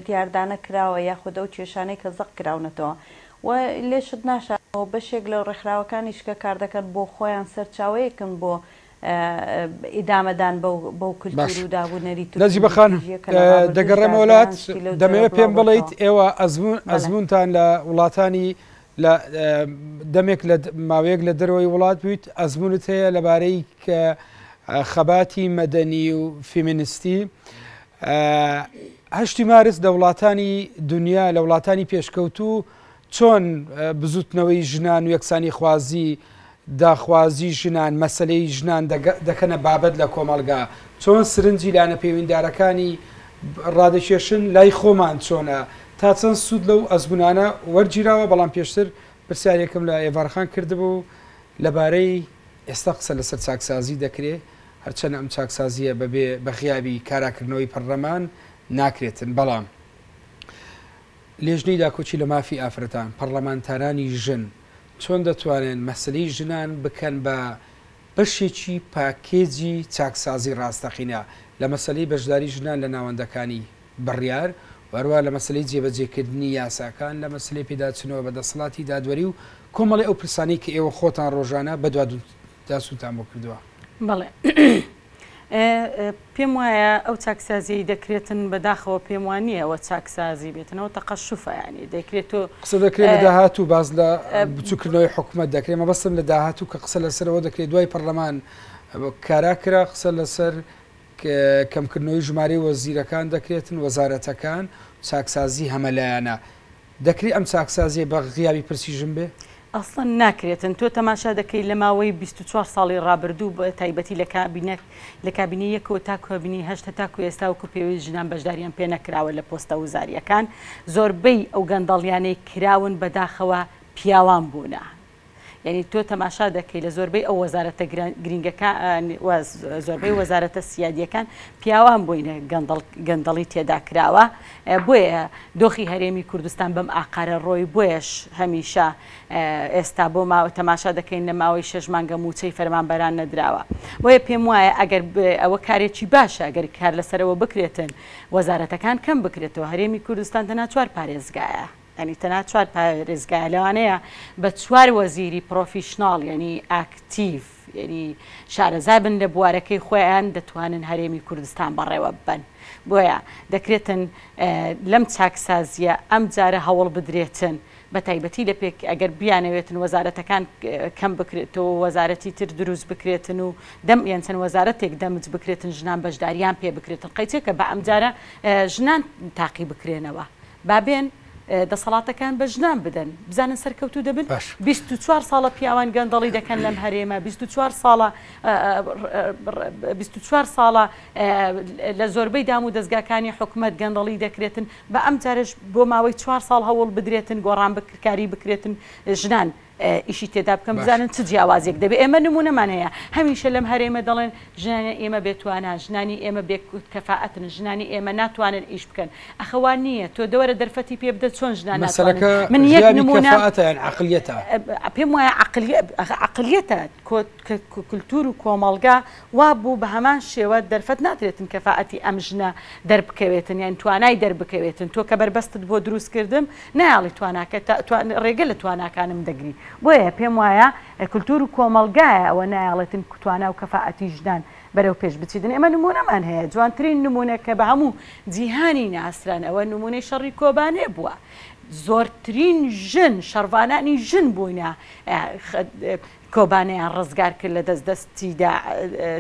دیاردانە کراوە یاخود ئەو کێشانەی کە زەق کراونەتەوە و لێشت ناشارمەوە بەشێک لە ڕێکخراوەکانیش کە کاردەکەن بۆ خۆیان سەرچاوەیەکن بۆ ئیدامەدان بەو کلتور و داب و نەریت و تکنۆلۆژییە کە لە ڕابردووشدا دەیان شتی لەو جۆرە بڵاو دەکرا. نەجیبە خان، دەمەوێت پێم بڵێیت ئێوە ئەزموونتان لە وڵاتانی لە دەمێک لە ماوەیەک لە دەرەوەی وڵات بوویت، ئەزموونت هەیە لەبارەی خەباتی مەدەنی و فیمینیستی هەشتی مارس لە وڵاتانی دونیا، لە وڵاتانی پێشکەوتوو چۆن بزوتنەوەی ژنان و یەکسانیخوازی داخوازی ژنان مەسەلەی ژنان دەکەنە بابەت لە کۆمەڵگا، چۆن سرنجی لانە پێویندارەکانی ڕادەکێشن، لای خۆمان چۆنە، تا چەند سود لەو ئەزمونانە وەرگیراوە، بەڵام پێشتر پرسیارێکم لە ئێڤارخان کردبوو لەبارەی ئێستا قسە لەسەر چاکسازی دەکرێ، هەرچەند ئەم چاکسازیە بەبێ بەغیابی کاراکردنەوەی پەڕلەمان ناکرێتن، بەڵام. لیژنەی داکۆکی لە مافی ئافرەتان، پەڕڵەمانتارانی ژن چۆن دەتوانن مەسەلەی ژنان بکەن بە بەشێکی پاکێجی چاکسازی ڕاستەقینە لە مەسەلەی بەشداری ژنان لە ناوەندەکانی بڕیار و هەروەها لە مەسەلەی جێبەجێکردنی یاساکان، لە مەسەلەی پێداچوونەوە بە دەسەڵاتی دادوەری و کۆمەڵی ئەو پرسانەی کە ئێوە خۆتان ڕۆژانە بەدواداچوونتان بۆ کردووە؟ بەڵێ. ئێ پێم وایە ئەو چاکسازیەی دەکرێتن بەداخەوە پێم وا نیە ئەوە چاکسازی بێتن ئەوە تەقەشوفە یانی دەکرێت تۆ قسە دەکرێت لە داهاتوو باس لە بچووکردنەوەی حکوومەت دەکرێت مەبەستم لە داهاتوو کە قسە لەسەرەوە دەکرێت دوای پەرلەمان کارا کرا قسە لەسەر کەمکردنەوەی ژمارەی وەزیرەکان دەکرێتن وەزارەتەکان چاکسازی هەمەلایەنە دەکرێ ئەم چاکسازیە بە غیابی پرسیژن بێ؟ ئەسڵەن ناکرێتن، تۆ تەماشا دەکەی لە ماوەی بیست و چوار ساڵی ڕابردوو بە تایبەتی لە کابینە لە کابینەی یەکەوە تا کابینەی هەشت هەتاکو ئێستا وەکو پێویست ژنان بەشداریان پێ نەکراوە لە پۆستە وزاریەکان زۆربەی ئەو گەندەڵیانەی کراون بەداخەوە پیاوان بوونە یانی تۆ تەماشا دەکەی لە زۆربەی ئەو وەزارەتە گرنگەکان زۆربەی وەزارەتە سیادیەکان پیاوان بووینە گەندەڵی تێدا کراوە بۆیە دۆخی هەرێمی کوردستان بەم ئاقارە ڕۆی بۆیش هەمیشە ئێستا بۆ ماوە تەماشا دەکەین لە ماوەی شش مانگە موچەی فەرمانبەران نەدراوە بۆیە پێم وایە ئەگەر ئەوە کارێکی باشە ئەگەر کار لەسەرەوە بکرێتن وەزارەتەکان کەم بکرێتەوە هەرێمی کوردستان دەناچوار پارێزگایە یانی تەنها چوار پارێزگایە لەوانەیە بە چوار وەزیری پڕۆفیشناڵ یانی ئاکتیڤ یانی شارەزا بن لە بوارەکەی خۆیان دەتوانن هەرێمی کوردستان بەڕێوە ببەن بۆیە دەکرێتن لەم چاکسازییە ئەم جارە هەوڵ بدرێتن بە تایبەتی لە پێک ئەگەر بیانەوێتن وەزارەتەکان کەم بکرێتەوە وەزارەتی تر دروست بکرێتن و دەم یان چەند وەزارەتێک دەمج بکرێتن ژنان بەشداریان پێ بکرێتن قەیچێکە بە ئەم جارە ژنان تاقی بکرێنەوە با بێن دەسەڵاتەکان بە ژنان بدەن بزانن سەرکەوتوو دەبن باش بیست و چوار ساڵە پیاوان گەندەڵی دەکەن لەم هەرێمە بیست و چوار ساڵە بیست و چوار ساڵە لە زۆربەی دام و دەزگاکانی حکومەت گەندەڵی دەکرێتن بە ئەم جارش بۆ ماوەی چوار ساڵ هەوڵ بدرێتن گۆڕان بکرکاری بکرێتن ژنان ئیشی تێدا بکەن بزانن چ جیاوازیەک دەبێت ئێمە نمونەمان هەیە هەمیشە لەم هەرێمە دەڵێن ژنانی ئێمە بێتوانان ژنانی ئێمە بێکوت کەفاعەتن ژنانی ئێمە ناتوانن ئیش بکەن ئەخەوان نییە تۆ دەوەرە دەرفەتی پێ بدە چۆن ژنان مەسەلەکە من یەک نمونە عقلیەتە پێم وایە عقلیەتە کۆت کە کولتور و کۆمەڵگا وابوو بەهەمان شێوە دەرفەت نادرێتن کەفائەتی ئەم ژنە دەربکەوێتن یان توانای دەربکەوێتن تۆ کە بەربەستت بۆ دروست کردم نایاڵی تواناکە ڕێگە لە تواناکانم دەگری بۆیە پێم وایە کلتور و کۆمەڵگایە ئەوە نایاڵێتن تواناو و کەفائەتی ژنان بەرەو پێش بچیتن ئێمە نمونەمان هەیە جوانترین نمونە کە بە هەموو جیهانی ناسران ئەوە نمونەی شەڕی کۆبانێ بووە زۆرترین ژن شەڕڤانانی ژن بووینە کۆبانێیان ڕزگار کرد لە دەست دەستی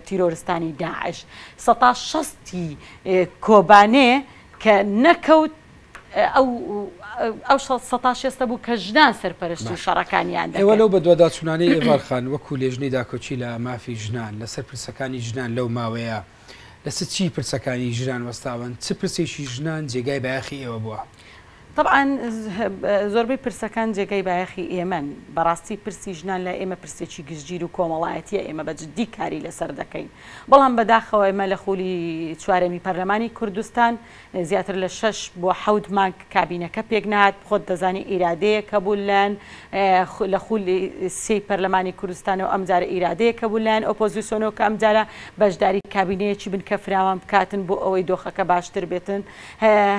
تیرۆرستانی داعش سەتا شەستی کۆبانێ کە نەکەوت ئەو سەتا شێستە بوو کە ژنان سەرپەرشتی شەڕەکانیان دەوە لەو بەدواداچوونانەی ئێوارخان وەکو لێژنەی داکۆکی لە مافی ژنان لەسەر پرسەکانی ژنان لەو ماوەیە لەسە چی پرسەکانی ژنان وەستاون؟ چ پرسێکی ژنان جێگای بایەخی ئێوە بووە؟ تەبعەن زۆربەی پرسەکان جێگای بایەخی ئێمەن، بەڕاستی پرسی ژنان لای ئێمە پرسێکی گشتگیر و کۆمەڵایەتیە ئێمە بە جدی کاری لەسەر دەکەین بەڵام بەداخەوە ئێمە لە خولی چوارەمی پەرلەمانی کوردستان زیاتر لە شەش بۆ حەوت مانگ کابینەکە پێکنەهات، خۆت دەزانی ئیرادەیەک هەبوو لەلایەن لە خولی سێی پەرلەمانی کوردستانەوە، ئەمجارە ئیرادەیەک هەبوو لەلایەن ئۆپۆزیسۆنەوە کە ئەمجارە بەشداری کابینەیەکی بنکە فراوان بکاتن بۆ ئەوەی دۆخەکە باشتر بێتن،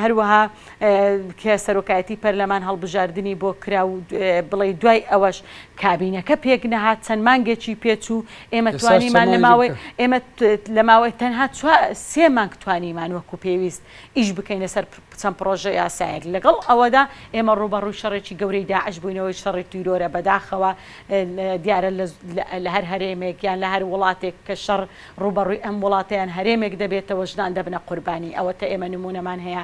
هەروەها کە سەرۆکایەتی پەرلەمان هەڵبژاردنی بۆ کرا و بڵێی دوای ئەوەش کابینەکە پێکنەهات، چەند مانگێکی پێچوو، ئێمە توانیمان لە ماوەی ئێمە لە ماوەی تەنها سێ مانگ توانیمان وەکو پێویست ئیش بکەینە سەر چەند پڕۆژە یاسایەک لەگەڵ ئەوەدا ئێمە ڕووبەڕووی شەڕێکی گەورەی داعش بووینەوەی شەڕی تیرۆرە بەداخەوە دیارە لە هەر هەرێمێک یان لە هەر وڵاتێک کە شەڕ ڕووبەڕووی ئەم وڵاتیان هەرێمێک دەبێتەوە ژنان دەبنە قوربانی ئەوەتە ئێمە نمونەمان هەیە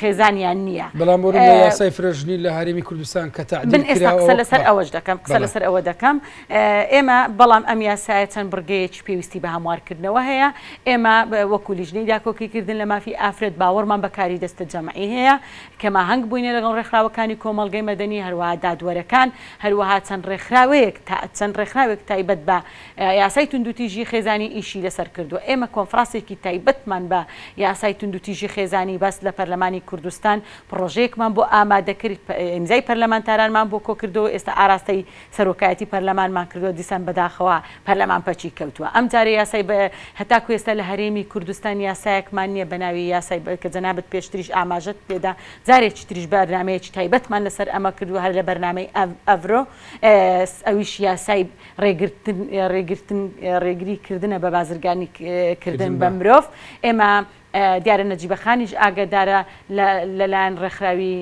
خێزانیان نییە بەڵام بۆ یاسای فرەژنی لە هەرێمی کوردستان کە تعدیل کراوە قسە لەسەر ئەوەش دەکەم قسە لەسەر ئەوە دەکەم ئێمە بەڵام ئەم یاسایە چەند بڕگەیەکی پێویستی بە هەموارکردنەوە هەیە ئێمە وەکو لیژنەی داکۆکیکردن لە مافی ئافرەت باوەڕمان بەکاری دەستە جەمعی هەیە کەما هەنگ بووینە لەگەڵ ڕێکخراوەکانی کۆمەڵگەی مەدەنی هەروەها دادوەرەکان هەروەها چەند ڕێکخراوەیەک تا چەند ڕێکخراوێک تایبەت بە یاسای توندوتیژی خێزانی ئیشی لەسەر کردووە، ئێمە کۆنفراسێکی تایبەتمان بە یاسای توندوتیژی خێزانی بەست لە پەرلەمانی کوردستان پڕۆژەیەکمان بۆ ئامادەکرد ئیمزای پەرلەمانتارانمان بۆ کۆکردەوە ئێستا ئاراستەی سەرۆکایەتی پەرلەمانمان کردووە دیسان بەداخەوە پەرلەمان پەکی کەوتووە ئەم جارە یاسای هەتاکو ئێستا لە هەرێمی کوردستان یاسایەکمان نییە بەناوی یاسای کە جەنابت پێشتریش ئاماژەت پێدا جارێکی تریش بەرنامەیەکی تایبەتمان لەسەر ئەمە کردووە هەر لە بەرنامەی ئەڤرۆ ئەویش یاسای ڕێگرتن ڕێگرتن ڕێگری کردنە بە بازرگانی کردن بە مرۆڤ ئێمە دیارە نەجیبە خانیش ئاگەدارە لەلایەن ڕێکخراوی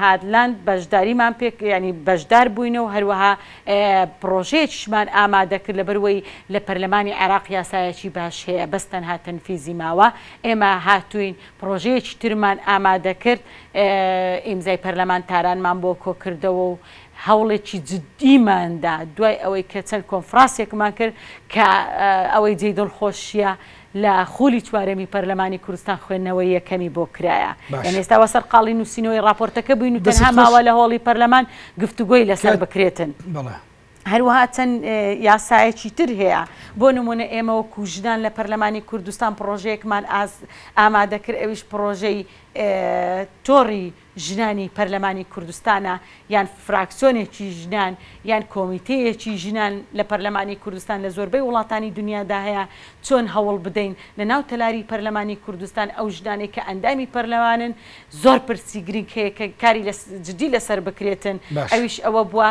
هادلاند بەشداریمان پێک ینی بەشدار بووینە و هەروەها پرۆژەیەکیشمان ئامادە کرد لەبەروەی لە پەرلەمانی عێراق یاسایەکی باش هەیە بەس تەنها تەنفیزی ماوە ئێمە هاتوین پرۆژەیەکی ترمان ئامادە کرد ئیمزای پەرلەمان تارانمان بۆ کۆکردەوە و هەوڵێکی جدیمان دا دوای ئەوەی کە چەند کۆنفڕاسێکمان کرد کە ئەوەی جێی دڵخۆشیە لە خولی چوارەمی پەرلەمانی کوردستان خوێندنەوەی یەکەمی بۆ کرایە یان ئێستا وە سەرقاڵی نووسینەوەی ڕاپۆرتەکە بووین و تەنها ماوە لە هۆڵی پەرلەمان گفتوگۆی لەسەر بکرێتن. هەروەها چەند یاسایەکی تر هەیە بۆ نموونە ئێمە وەکو ژنان لە پەرلەمانی کوردستان پڕۆژەیەکمان ئامادەکرد ئەویش پڕۆژەی تۆڕی ژنانی پەرلەمانی کوردستانە یان فراکسیۆنێکی ژنان یان کۆمیتەیەکی ژنان لە پەرلەمانی کوردستان لە زۆربەی وڵاتانی دنیادا هەیە، چۆن هەوڵ بدەین لە ناو تەلاری پەرلەمانی کوردستان ئەو ژنانەی کە ئەندامی پەرلەمانن زۆر پرسی گرنگ هەیە کە کاری جدی لەسەر بکرێتن باشە. ئەویش ئەوە بووە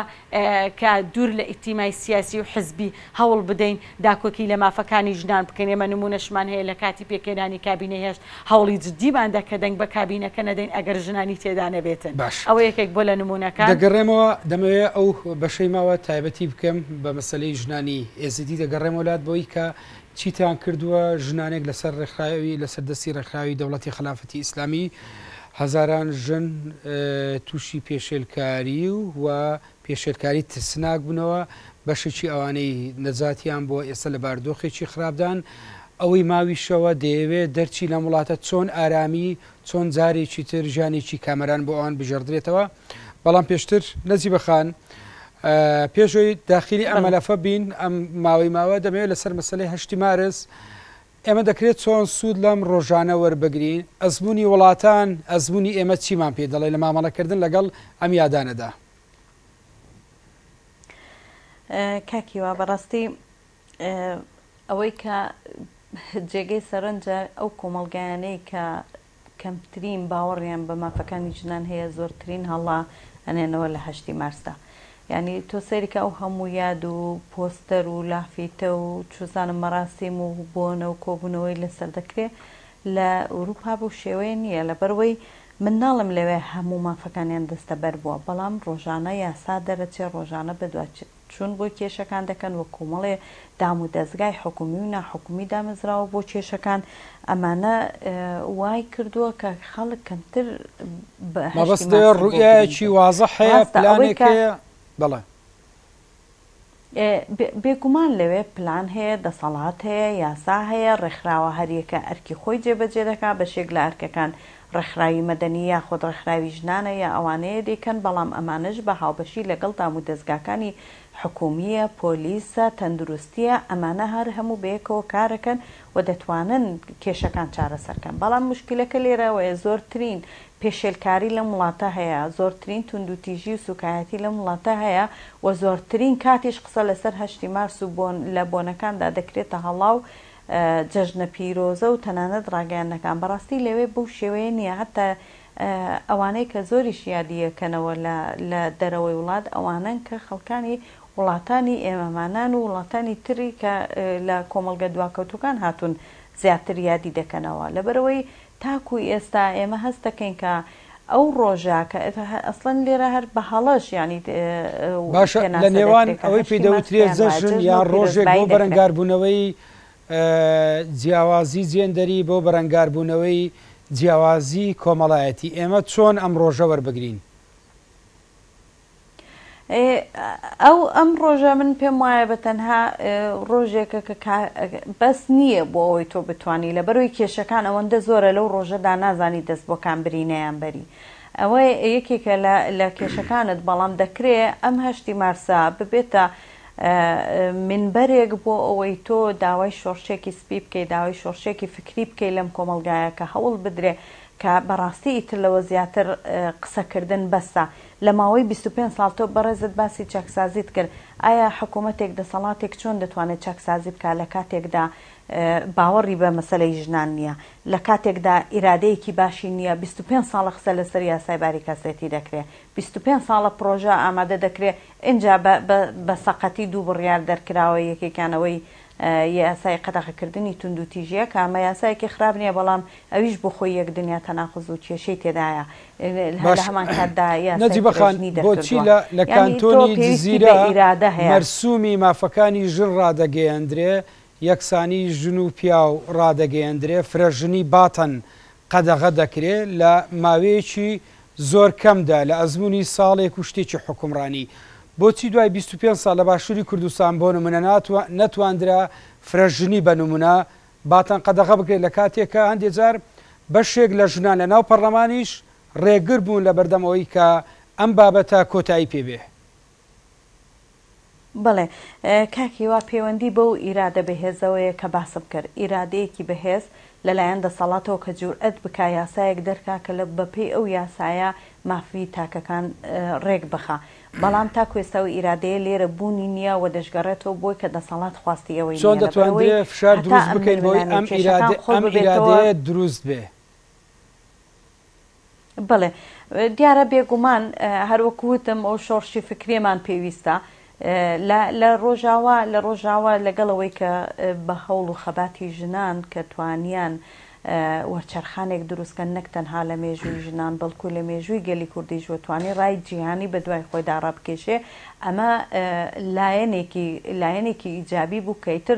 کە دوور لە ئیتیمای سیاسی و حزبی، هەوڵ بدەین داکۆکی لە مافەکانی ژنان بکەین، ئێمە نموونەشمان هەیە لە کاتی پێکهێنانی کابینەی هەشت، هەوڵی جدیمان دا کە دەنگ بە کابینەکە نەدەین ئەگەر ژنانی تێدا نەبێتن. باش. ئەوە یەکێک بووە لە نموونەکان. دەگەڕێمەوە، دەمەوێت ئەو بەشەی ماوە تایبەتی بکەم بە مەسەلەی ژنانی ئێزیدی، دەگەڕێمەوە لات بۆی کە چیتان کردووە ژنانێک لەسەر ڕێکخراوی، لەسەر دەستی ڕێکخراوی دەوڵەتی خەلافەتی ئیسلامی هەزاران ژن تووشی پێشێلکاری و پێشێلکاری ترسناک بوونەوە، بەشێکی ئەوانەی نەجاتیان بووە ئێستا لە باردۆخێکی خراپدان، ئەوەی ماویشەوە دەیەوێت دەرچی لەم وڵاتە چۆن ئارامی، چۆن جارێکی تر ژیانێکی کامەران بۆ ئەوان بگێڕدرێتەوە، بەڵام پێشتر نەجیبە خان پێش ئەوەی داخیلی ئەم مەلەفە بین ئەم ماوەی ماوە دەمەوێت لەسەر مەسەلەی هەشتی مارس ئێمە دەکرێت چۆن سوود لەم ڕۆژانە وەربگرین؟ ئەزموونی وڵاتان، ئەزموونی ئێمە چیمان پێ دەڵێت لە مامەڵەکردن لەگەڵ ئەم یادانەدا؟ کاک هیوا بەڕاستی ئەوەی کە جێگەی سەرنجە ئەو کۆمەڵگایانەی کە کەمترین باوەڕیان بە مافەکانی ژنان هەیە زۆرترین هەڵە ئەنێنەوە لە هەشتی مارسدا یانی تۆ سەیرکە ئەو هەموو یاد و پۆستەر و لافیتە و چوزانم مەراسیم و بۆنە و کۆبونەوەی لەسەر دەکرێ لە ئوروپا بەو شێوەیە نیە لەبەرئەوەی من ناڵێم لەوێ هەموو مافەکانیان دەستەبەر بوە بەڵام ڕۆژانە یاسا دەرەچێ ڕۆژانە بەدوا چوون بۆ کێشەکان دەکەن و کۆمەڵێ دام و دەزگای حکومی و ناحکومی دامەزراوە بۆ کێشەکان ئەمانە وای کردووە کە خەڵک کەمتر مەبەست ڕوئایەکی وازە هەیە پلانێک هەیە بەڵێ بێگومان لەوێ پلان هەیە دەسەڵات هەیە یاسا هەیە ڕێکخراوە هەریەکە ئەرکی خۆی جێبەجێ دەکا بەشێک لە ئەرکەکان ڕێکخراوی مەدەنی یاخود ڕێکخراوی ژنانە یا ئەوانەیە دەیکەن بەڵام ئەمانەش بە هاوبەشی لەگەڵ دامودەزگاکانی حکومیە، پۆلیسە، تەندروستیە ئەمانە هەر هەموو بەیەکەوە کارەکەن و دەتوانن کێشەکان چارەسەرکەن بەڵام موشکیلەکە لێرە ئەوەیە زۆرترین پێشێلکاری لەم وڵاتە هەیە زۆرترین توندوتیژی و سوکایەتی لەم وڵاتە هەیە و زۆرترین کاتیش قسە لەسەر هەشتی مارس و بۆن لە بۆنەکاندا دەکرێتە هەڵاو جەژنە پیرۆزە و تەنانەت ڕاگەیاندنەکان بەڕاستی لەوێ بەو شێوەیە نییە هەتا ئەوانەی کە زۆریش یادی یەکەنەوە لە لە دەرەوەی وڵات ئەوانەن کە خەڵکانی وڵاتانی ئێمەمانان و وڵاتانی تری کە لە کۆمەڵگە دواکەوتووەکان هاتوون زیاتر یادی دەکەنەوە لەبەرئەوەی تاکو ئێستا ئێمە هەست دەکەین کە ئەو ڕۆژە کە ئەسڵەن لێرە هەر بە هەڵەش یانی باشە لە نێوان ئەوەی پێی دەوترێت جەژن یا ڕۆژێک بۆ بەرەنگاربوونەوەی جیاوازی جێندەری بۆ بەرەنگاربوونەوەی جیاوازی کۆمەڵایەتی ئێمە چۆن ئەم ڕۆژە وەربگرین؟ ئێ ئەو ئەم ڕۆژە من پێم وایە بە تەنها ڕۆژێکە کە بەس نییە بۆ ئەوەی تۆ بتانی لە بەرەوەی کێشەکان ئەوەندە زۆرە لەو ڕۆژەدا نازانی دەست بۆکان برینەیان بەری ئەوە یەکێکە لە کێشەکانت بەڵام دەکرێ ئەم هەشتی مارسا ببێتە منبەرێک بۆ ئەوەی تۆ داوای شۆڕشێکی سپی بکەی داوای شۆڕشێکی فکری بکەی لەم کۆمەلگایە کە هەوڵ بدرێ کە بەڕاستی ئیتر لەوە زیاتر قسەکردن بەسە لە ماوەی بیست و پێنج ساڵ تۆ بەڕێزت باسی چاکسازیت کرد، ئایا حکوومەتێک دەسەڵاتێک چۆن دەتوانێت چاکسازی بکات لە کاتێکدا باوەڕی بە مەسەلەی ژنان نییە، لە کاتێکدا ئیرادەیەکی باشی نییە، بیست و پێنج ساڵە قسە لەسەر یاسای باری کەسێتی دەکرێ، بیست و پێنج ساڵە پڕۆژە ئامادە دەکرێ، ئینجا بە سەقەتی دوو بڕیار دەرکراوە یەکێکیان ئەوەی یاسای قەدەغەکردنی توندوتیژیە کە ئەمە یاسایەکی خراپ نیە بەڵام ئەویش بۆ خۆی یەک دنیا تەناقز و کێشەی تێدایە هەر لە هەمان کاتدا یاسای فرەژنی دەرکردوە یانی تۆ پێویستی بە ئیرادە هەیە. مەرسومی مافەکانی ژن ڕادەگەیەندرێ، یەکسانی ژن و پیاو ڕادەگەیەندرێ، فرەژنی باتن قەدەغە دەکرێت لە ماوەیەکی زۆر کەمدا لە ئەزموونی ساڵێک و شتێکی حوکمڕانی بۆچی دوای بیست و پێنج ساڵ لە باشووری کوردستان بۆ نموونە نەتواندرا فرە ژنی بە نموونە باتن قەدەغە بکرێت لە کاتێک کە هەندێک جار بەشێک لە ژنان لە ناو پەڕلەمانیش ڕێگر بوون لە بەردەم ئەوەی کە ئەم بابەتە کۆتایی پێ بێ. بەڵێ کاک هیوا پێوەندی بەو ئیرادە بەهێزەوەیە کە باسم کرد، ئیرادەیەکی بەهێز لەلایەن دەسەڵاتەوە کە جورئەت بکا یاسایەک دەرکا کە لە بەپێی ئەو یاسایە مافی تاکەکان رێک بخا، بەڵام تاکو ئێستا ئەو ئیرادەیە لێرە بوونی نییە و دەشگەڕێتەوە بۆی کە دەسەڵات خواستی ئەوەی نییە لەبەر ئەوەی هەتا ئەم ململانێ و کێشەکان قوڵ ببێتەوە. چۆن دەتواندرێ فشار دروست بکەین بۆی ئەم ئیرادەیە دروست بێ؟ بەڵێ دیارە بێگومان هەروەکو وتم ئەو شۆڕشی فکرێمان پێویستە لە ڕۆژاوا لە ڕۆژاوا لەگەڵەوەی کە بە هەوڵ و خەباتی ژنان کە توانیان وەرچەرخانێک دروستکەن نەک تەنها لە مێژووی ژنان بەڵکو لە مێژووی گەلی کوردیش وەتوانی ڕای جیهانی بە دوای خۆی داڕابکێشێ ئەمە لایەنێکی لایەنێکی ئیجابی بوو کەیتر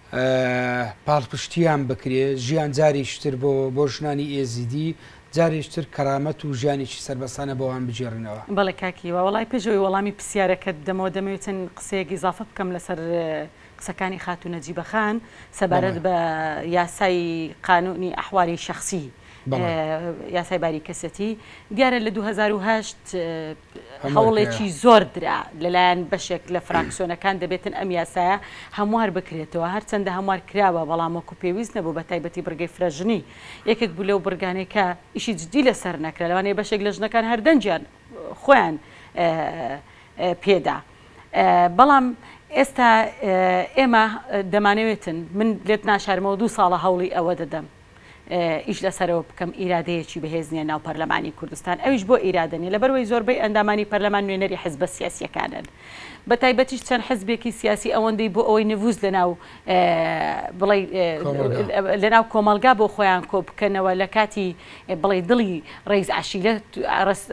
پاڵپشتیان بکرێ، ژیان جارێکی تر بۆ بۆ ژنانی ئێزیدی، جارێکی تر کەرامەت و ژیانێکی سەربەستانە بۆوان بگێڕنەوە. بەڵێ کاک هیوا، وەڵای پێش ئەوەی وەڵامی پرسیارەکەت بدەمەوە دەمەوێ چەند قسەیەک ئیزافە بکەم لەسەر قسەکانی خاتوو نەجیبە خان سەبارەت بە یاسای قانوونی ئەحوالی شەخسی یاسای باری کەسێتی دیارە لە دوو هەزار و هەشت هەوڵێکی زۆر درا لەلایەن بەشێک لە فراکسیۆنەکان دەبێتن ئەم یاسایە هەموار بکرێتەوە، هەرچەندە هەموار کراوە بەڵام وەکو پێویست نەبوو بەتایبەتی بڕگەی فرەژنی یەکێک بوو لەو بڕگانەی کە ئیشی جدی لەسەر نەکرا لەوانەیە بەشێک لە ژنەکان هەر دەنگیان خۆیان پێدا بەڵام ئێستا ئێمە دەمانەوێتن من لێت ناشارمەوە دوو ساڵە هەوڵی ئەوە دەدەم. ئیش لەسەرەوە بکەم ئیرادەیەکی بەهێز نیە ناو پەرلەمانی کوردستان ئەویش بۆ ئیرادە نیە لەبەروەی زۆربەی ئەندامانی پەرلەمان نوێنەری حزبە سیاسیەکانن بەتایبەتیش چەند حزبێکی سیاسی ئەوەندەی بۆ ئەوەی نڤوز لەناو بڵی لەناو کۆمەلگا بۆ خۆیان کۆ بکەنەوە لە کاتی بڵی دڵی ڕیز عشیرە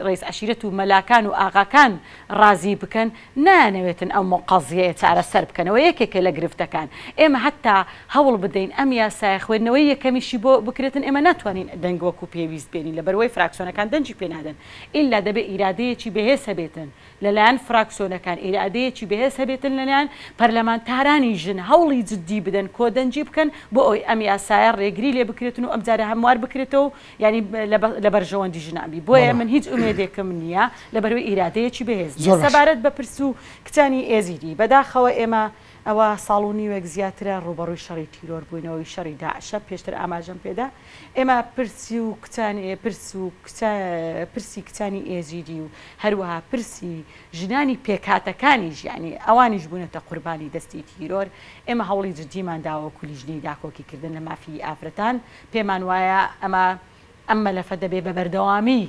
ڕیز عشیرەت و مەلاکان و ئاغاکان ڕازی بکەن نایانەوێتن ئەم قەزیەیە چارەسەر بکەنەوە یەکێکە لە گرفتەکان ئێمە هەتا هەوڵ بدەین ئەم یاسایە خوێندنەوەی یەکەمیشی بۆ بکرێتن ئێمە ناتوانین دەنگ وەکو پێویست بێنین لەبەروەی فراکسیۆنەکان دەنگی پێ نادەن ئیلا دەبێ ئیرادەیەکی بەهێز هەبێتن لەلایەن فراکسیۆنەکان ئیرادەیەکی بەهێز هەبێتن لەلایەن پەرلەمانتارانی ژن هەوڵی جدی بدەن کۆدەنگی بکەن بۆ ئەوەی ئەم یاسایە رێگری لێ بکرێتن و ئەمجارە هەموار بکرێتەوە و یانی لە بەرژەوەندی ژنان بی بۆیە من هیچ ئومێدێکم نییە لە بەروی ئیرادەیەکی بەهێز زۆر سەبارەت بە پرس و کچانی ئێزیدی بەداخەوە ئێمە ئەوە ساڵ و نیوێک زیاترە ڕوبەڕووی شەڕی تیرۆر بووینەوەی شەڕی داعشە پێشتر ئاماژەم پێدا ئێمە پرسی و کچانی پرس و پرسی کچانی ئێزیدی و هەروەها پرسی ژنانی پێکاتەکانی ژیانی ئەوانیش بوونەتە قوربانی دەستی تیرۆر ئێمە هەوڵی جدیمان داوە کولیژنەی داکۆکیکردن لە مافی ئافرەتان پێمان وایە ئەمە ئەم مەلەفە دەبێ بە بەردەوامی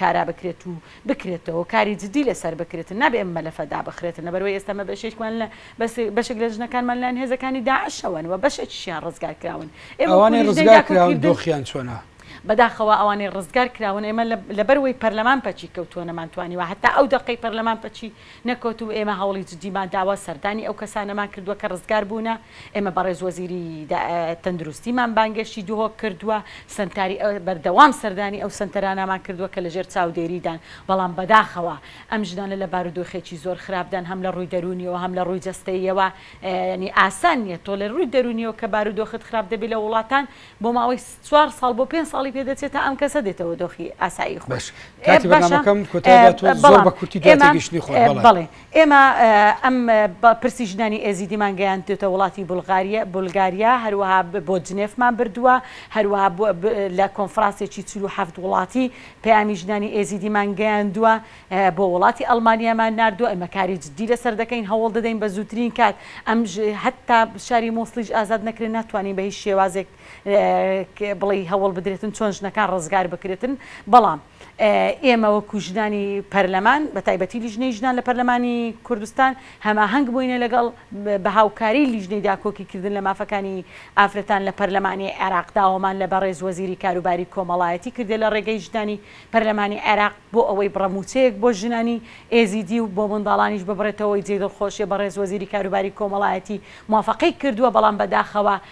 کارا بکرێت و بکرێتەوە کاری جدی لەسەر بکرێت نابێ ئەم مەلەفە دابخرێت لەبەر وەی ئێستا مەبەشێکمان لە بەس بەشێک لە ژنەکانمان لەن هێزەکانی داعشەوەن و بەشێکیشیان ڕزگار کراون ئەوانەی ڕزگار کراون دۆخیان چۆنە؟ بەداخەوە ئەوانەی ڕزگار کراون ئێمە لەبەر وەی پەرلەمان پەکی کەوتووە نەمانتوانیوە هەتا ئەو دەقەی پەرلەمان پەکی نەکەوتوو ئێمە هەوڵی جدیمان داوە سەردانی ئەو کەسانەمان کردووە کە ڕزگار بوونە ئێمە بەڕێز وەزیری تەندروستیمان بانگێشتی دهۆک کردووە، سەنتاری بەردەوام سەردانی ئەو سەنتەرانەمان کردووە کە لەژێر چاودێریدان، بەڵام بەداخەوە ئەم ژنانە لە بارودۆخێکی زۆر خراپدان هەم لە ڕووی دەروونیەوە هەم لە ڕووی جەستەییەوە، یانی ئاسان نییە تۆ لە ڕووی دەروونیەوە کە بارودۆخت خراپ دەبێت لە وڵاتان بۆ ماوەی چوار ساڵ بۆ پێنج ساڵی پێ دەچێت تا ئەم کەسە دێتەوە دۆخی ئاسایی خۆی. باشە کاتی بەرنامەکەم کۆتایی دەهاتووە زۆر بە کورتی دوای تێگەیشتنی خۆت بەڵێ. ئێمە ئەم پرسی ژنانی ئێزیدیمان گەیاندوێتە وڵاتی بولگاریا، هەروەها بۆ جنێفمان بردووە، هەروەها لە کۆنفرانسێکی چل و حەفت وڵاتی پەیامی ژنانی ئێزیدیمان گەیاندووە، بۆ وڵاتی ئەڵمانیامان ناردووە، ئێمە کاری جددی لەسەر دەکەین، هەوڵ دەدەین بە زووترین کات ئەم هەتا شاری موسڵیش ئازاد نەکرێت ناتوانین بە هیچ شێوازێک بڵێی هەوڵ بدرێتن چۆن ژنەکان ڕزگار بکرێتن، بەڵام. ئێمە وەکو ژنانی پەرلەمان بە تایبەتی لیژنەی ژنان لە پەرلەمانی کوردستان هەماهەنگ بووینە لەگەڵ بە هاوکاری لیژنەی داکۆکی کردن لە مافەکانی ئافرەتان لە پەرلەمانی عێراق داوامان لە بەڕێز وەزیری کاروباری کۆمەڵایەتی کردە لە ڕێگەی ژنانی پەرلەمانی عێراق بۆ ئەوەی بڕە مووچەیەک بۆ ژنانی ئێزیدی و بۆ منداڵانیش ببڕێتەوەی جێی دڵخۆشیە بەڕێز وەزیری کاروباری کۆمەڵایەتی موافەقەی کردووە بەڵام بەداخەوە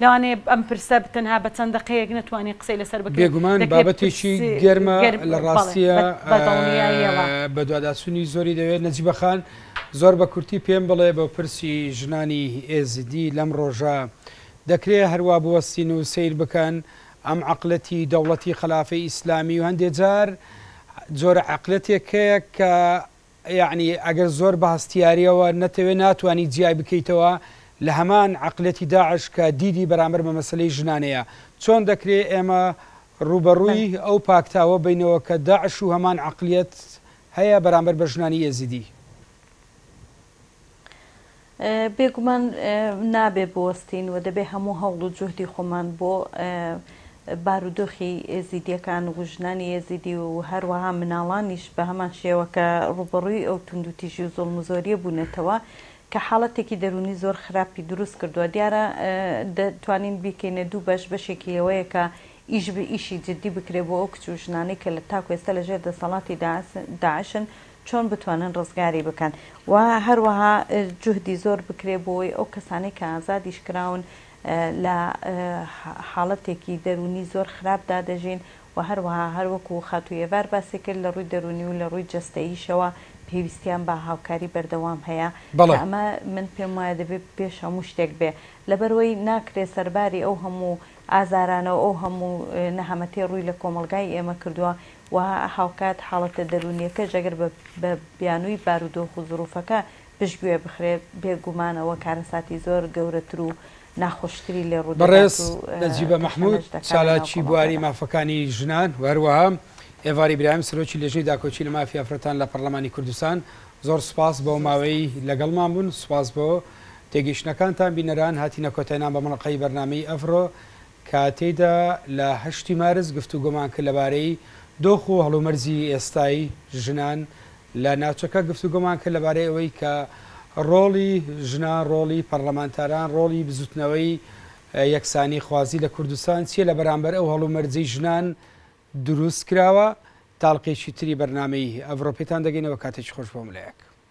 لەوانەیە ئەم پرسە تەنها بە چەند دەقەیەک نەتوانین قسەی لەسەر بکەین. بێگومان بابەتێکی گەرمە، لە ڕاستییە بەدواداچوونی زۆری دەوێت. نەجیبە خان، زۆر بە کورتی پێم بڵێ بۆ پرسی ژنانی ئێزیدی لەم ڕۆژە، دەکرێت هەر وا بوەستین و سەیر بکەن ئەم عەقلەتی دەوڵەتی خەلافەی ئیسلامی و هەندێ جار جۆرە عەقلەتێک هەیە کە یەعنی ئەگەر زۆر بە هەستیاریەوە نەتەوێ ناتوانی جیای بکەیتەوە لە هەمان عەقلەتی داعش کە دیدی بەرامبەر بە مەسەلەی ژنانەیە چۆن دەکرێ ئێمە ڕووبەڕووی ئەو پاکتاوە بینەوە کە داعش و هەمان عەقلیەت هەیە بەرامبەر بە ژنانی ئێزیدی. بێگومان نابێ بوەستین و دەبێ هەموو هەوڵ و جوهدی خۆمان بۆ بارودۆخی ئێزیدییەکان و ژنانی ئێزیدی و هەروەها مناڵانیش بە هەمان شێوە کە ڕووبەڕووی ئەو توندوتیژی و زوڵم و زۆرییە بوونەتەوە کە حاڵەتێکی دەروونی زۆر خراپی دروست کردووە دیارە دەتوانین بیکەینە دوو بەش بەشێکی لەوەیە کە ئیش ئیشی جدی بکرێ بۆ ئەو کچ و ژنانەی کە لە تاکو ئێستا لە ژێر دەسەڵاتی داعشن چۆن بتوانن ڕزگاری بکەن و هەروەها جوهدی زۆر بکرێ بۆی ئەو کەسانەی کە ئازادیش کراون لە حاڵەتێکی دەرونی زۆر خراپ دادەژین و هەروەها هەروەکو خاتو یەڤار باسی کرد لە ڕووی دەرونی و لە ڕووی جەستەییشەوە پێویستیان بە هاوکاری بەردەوام هەیە کە ئەمە من پێم وایە دەبێ پێش هەموو شتێک بێ لەبەرئەوەی ناکرێ سەرباری ئەو هەموو ئازارانەو ئەو هەموو نەهەمەتیە ڕووی لە کۆمەڵگای ئێمە کردوە و هاوکات حاڵەتە دەروونییەکەش ئەگەر بە بیانووی بارودۆخ و زرووفەکە پشتگوێ بخرێ، بێ گومان ئەوە کارەساتی زۆر گەورەتر و ناخۆشتری لێ ڕوو دەدات بەڕێز و نەجیبە مەحمود، کەشخەنەش دەکا لە ناو چالاکی بواری کۆمەڵگەدا. مافەکانی ژنان و هەروەها ئێڤار ئیبراهیم، سەرۆکی لێژنەی داکۆکی لە مافی ئافرەتان لە پەڕڵەمانی کوردستان، زۆر سوپاس بۆ زۆر ماوەی سوپاس. لەگەڵمان بوون، سوپاس بۆ تێگەیشتنەکانتان. بینەران، هاتینە کۆتای نامبەمەڵەقەی بەرنامەی ئەڤرۆ. کاتێیدا لە هەشتی مارس گفتوگۆمان کرد لەبارەی دۆخ و هەڵومەرجی ئێستای ژنان لە ناوچەکە، گفتوگۆمان کرد لەبارەی ئەوەی کە ڕۆڵی ژنان، ڕۆڵی پەڕلەمانتاران، ڕۆڵی بزوتنەوەی یەکسانی خوازی لە کوردستان چیە لە بەرامبەر ئەو هەڵومەرجەی ژنان دروست کراوە، تاڵقێکی تری بەرنامەی ئەڤڕۆ پێتان دەگەینەوە کاتێکی خۆش بۆ ملەیەک.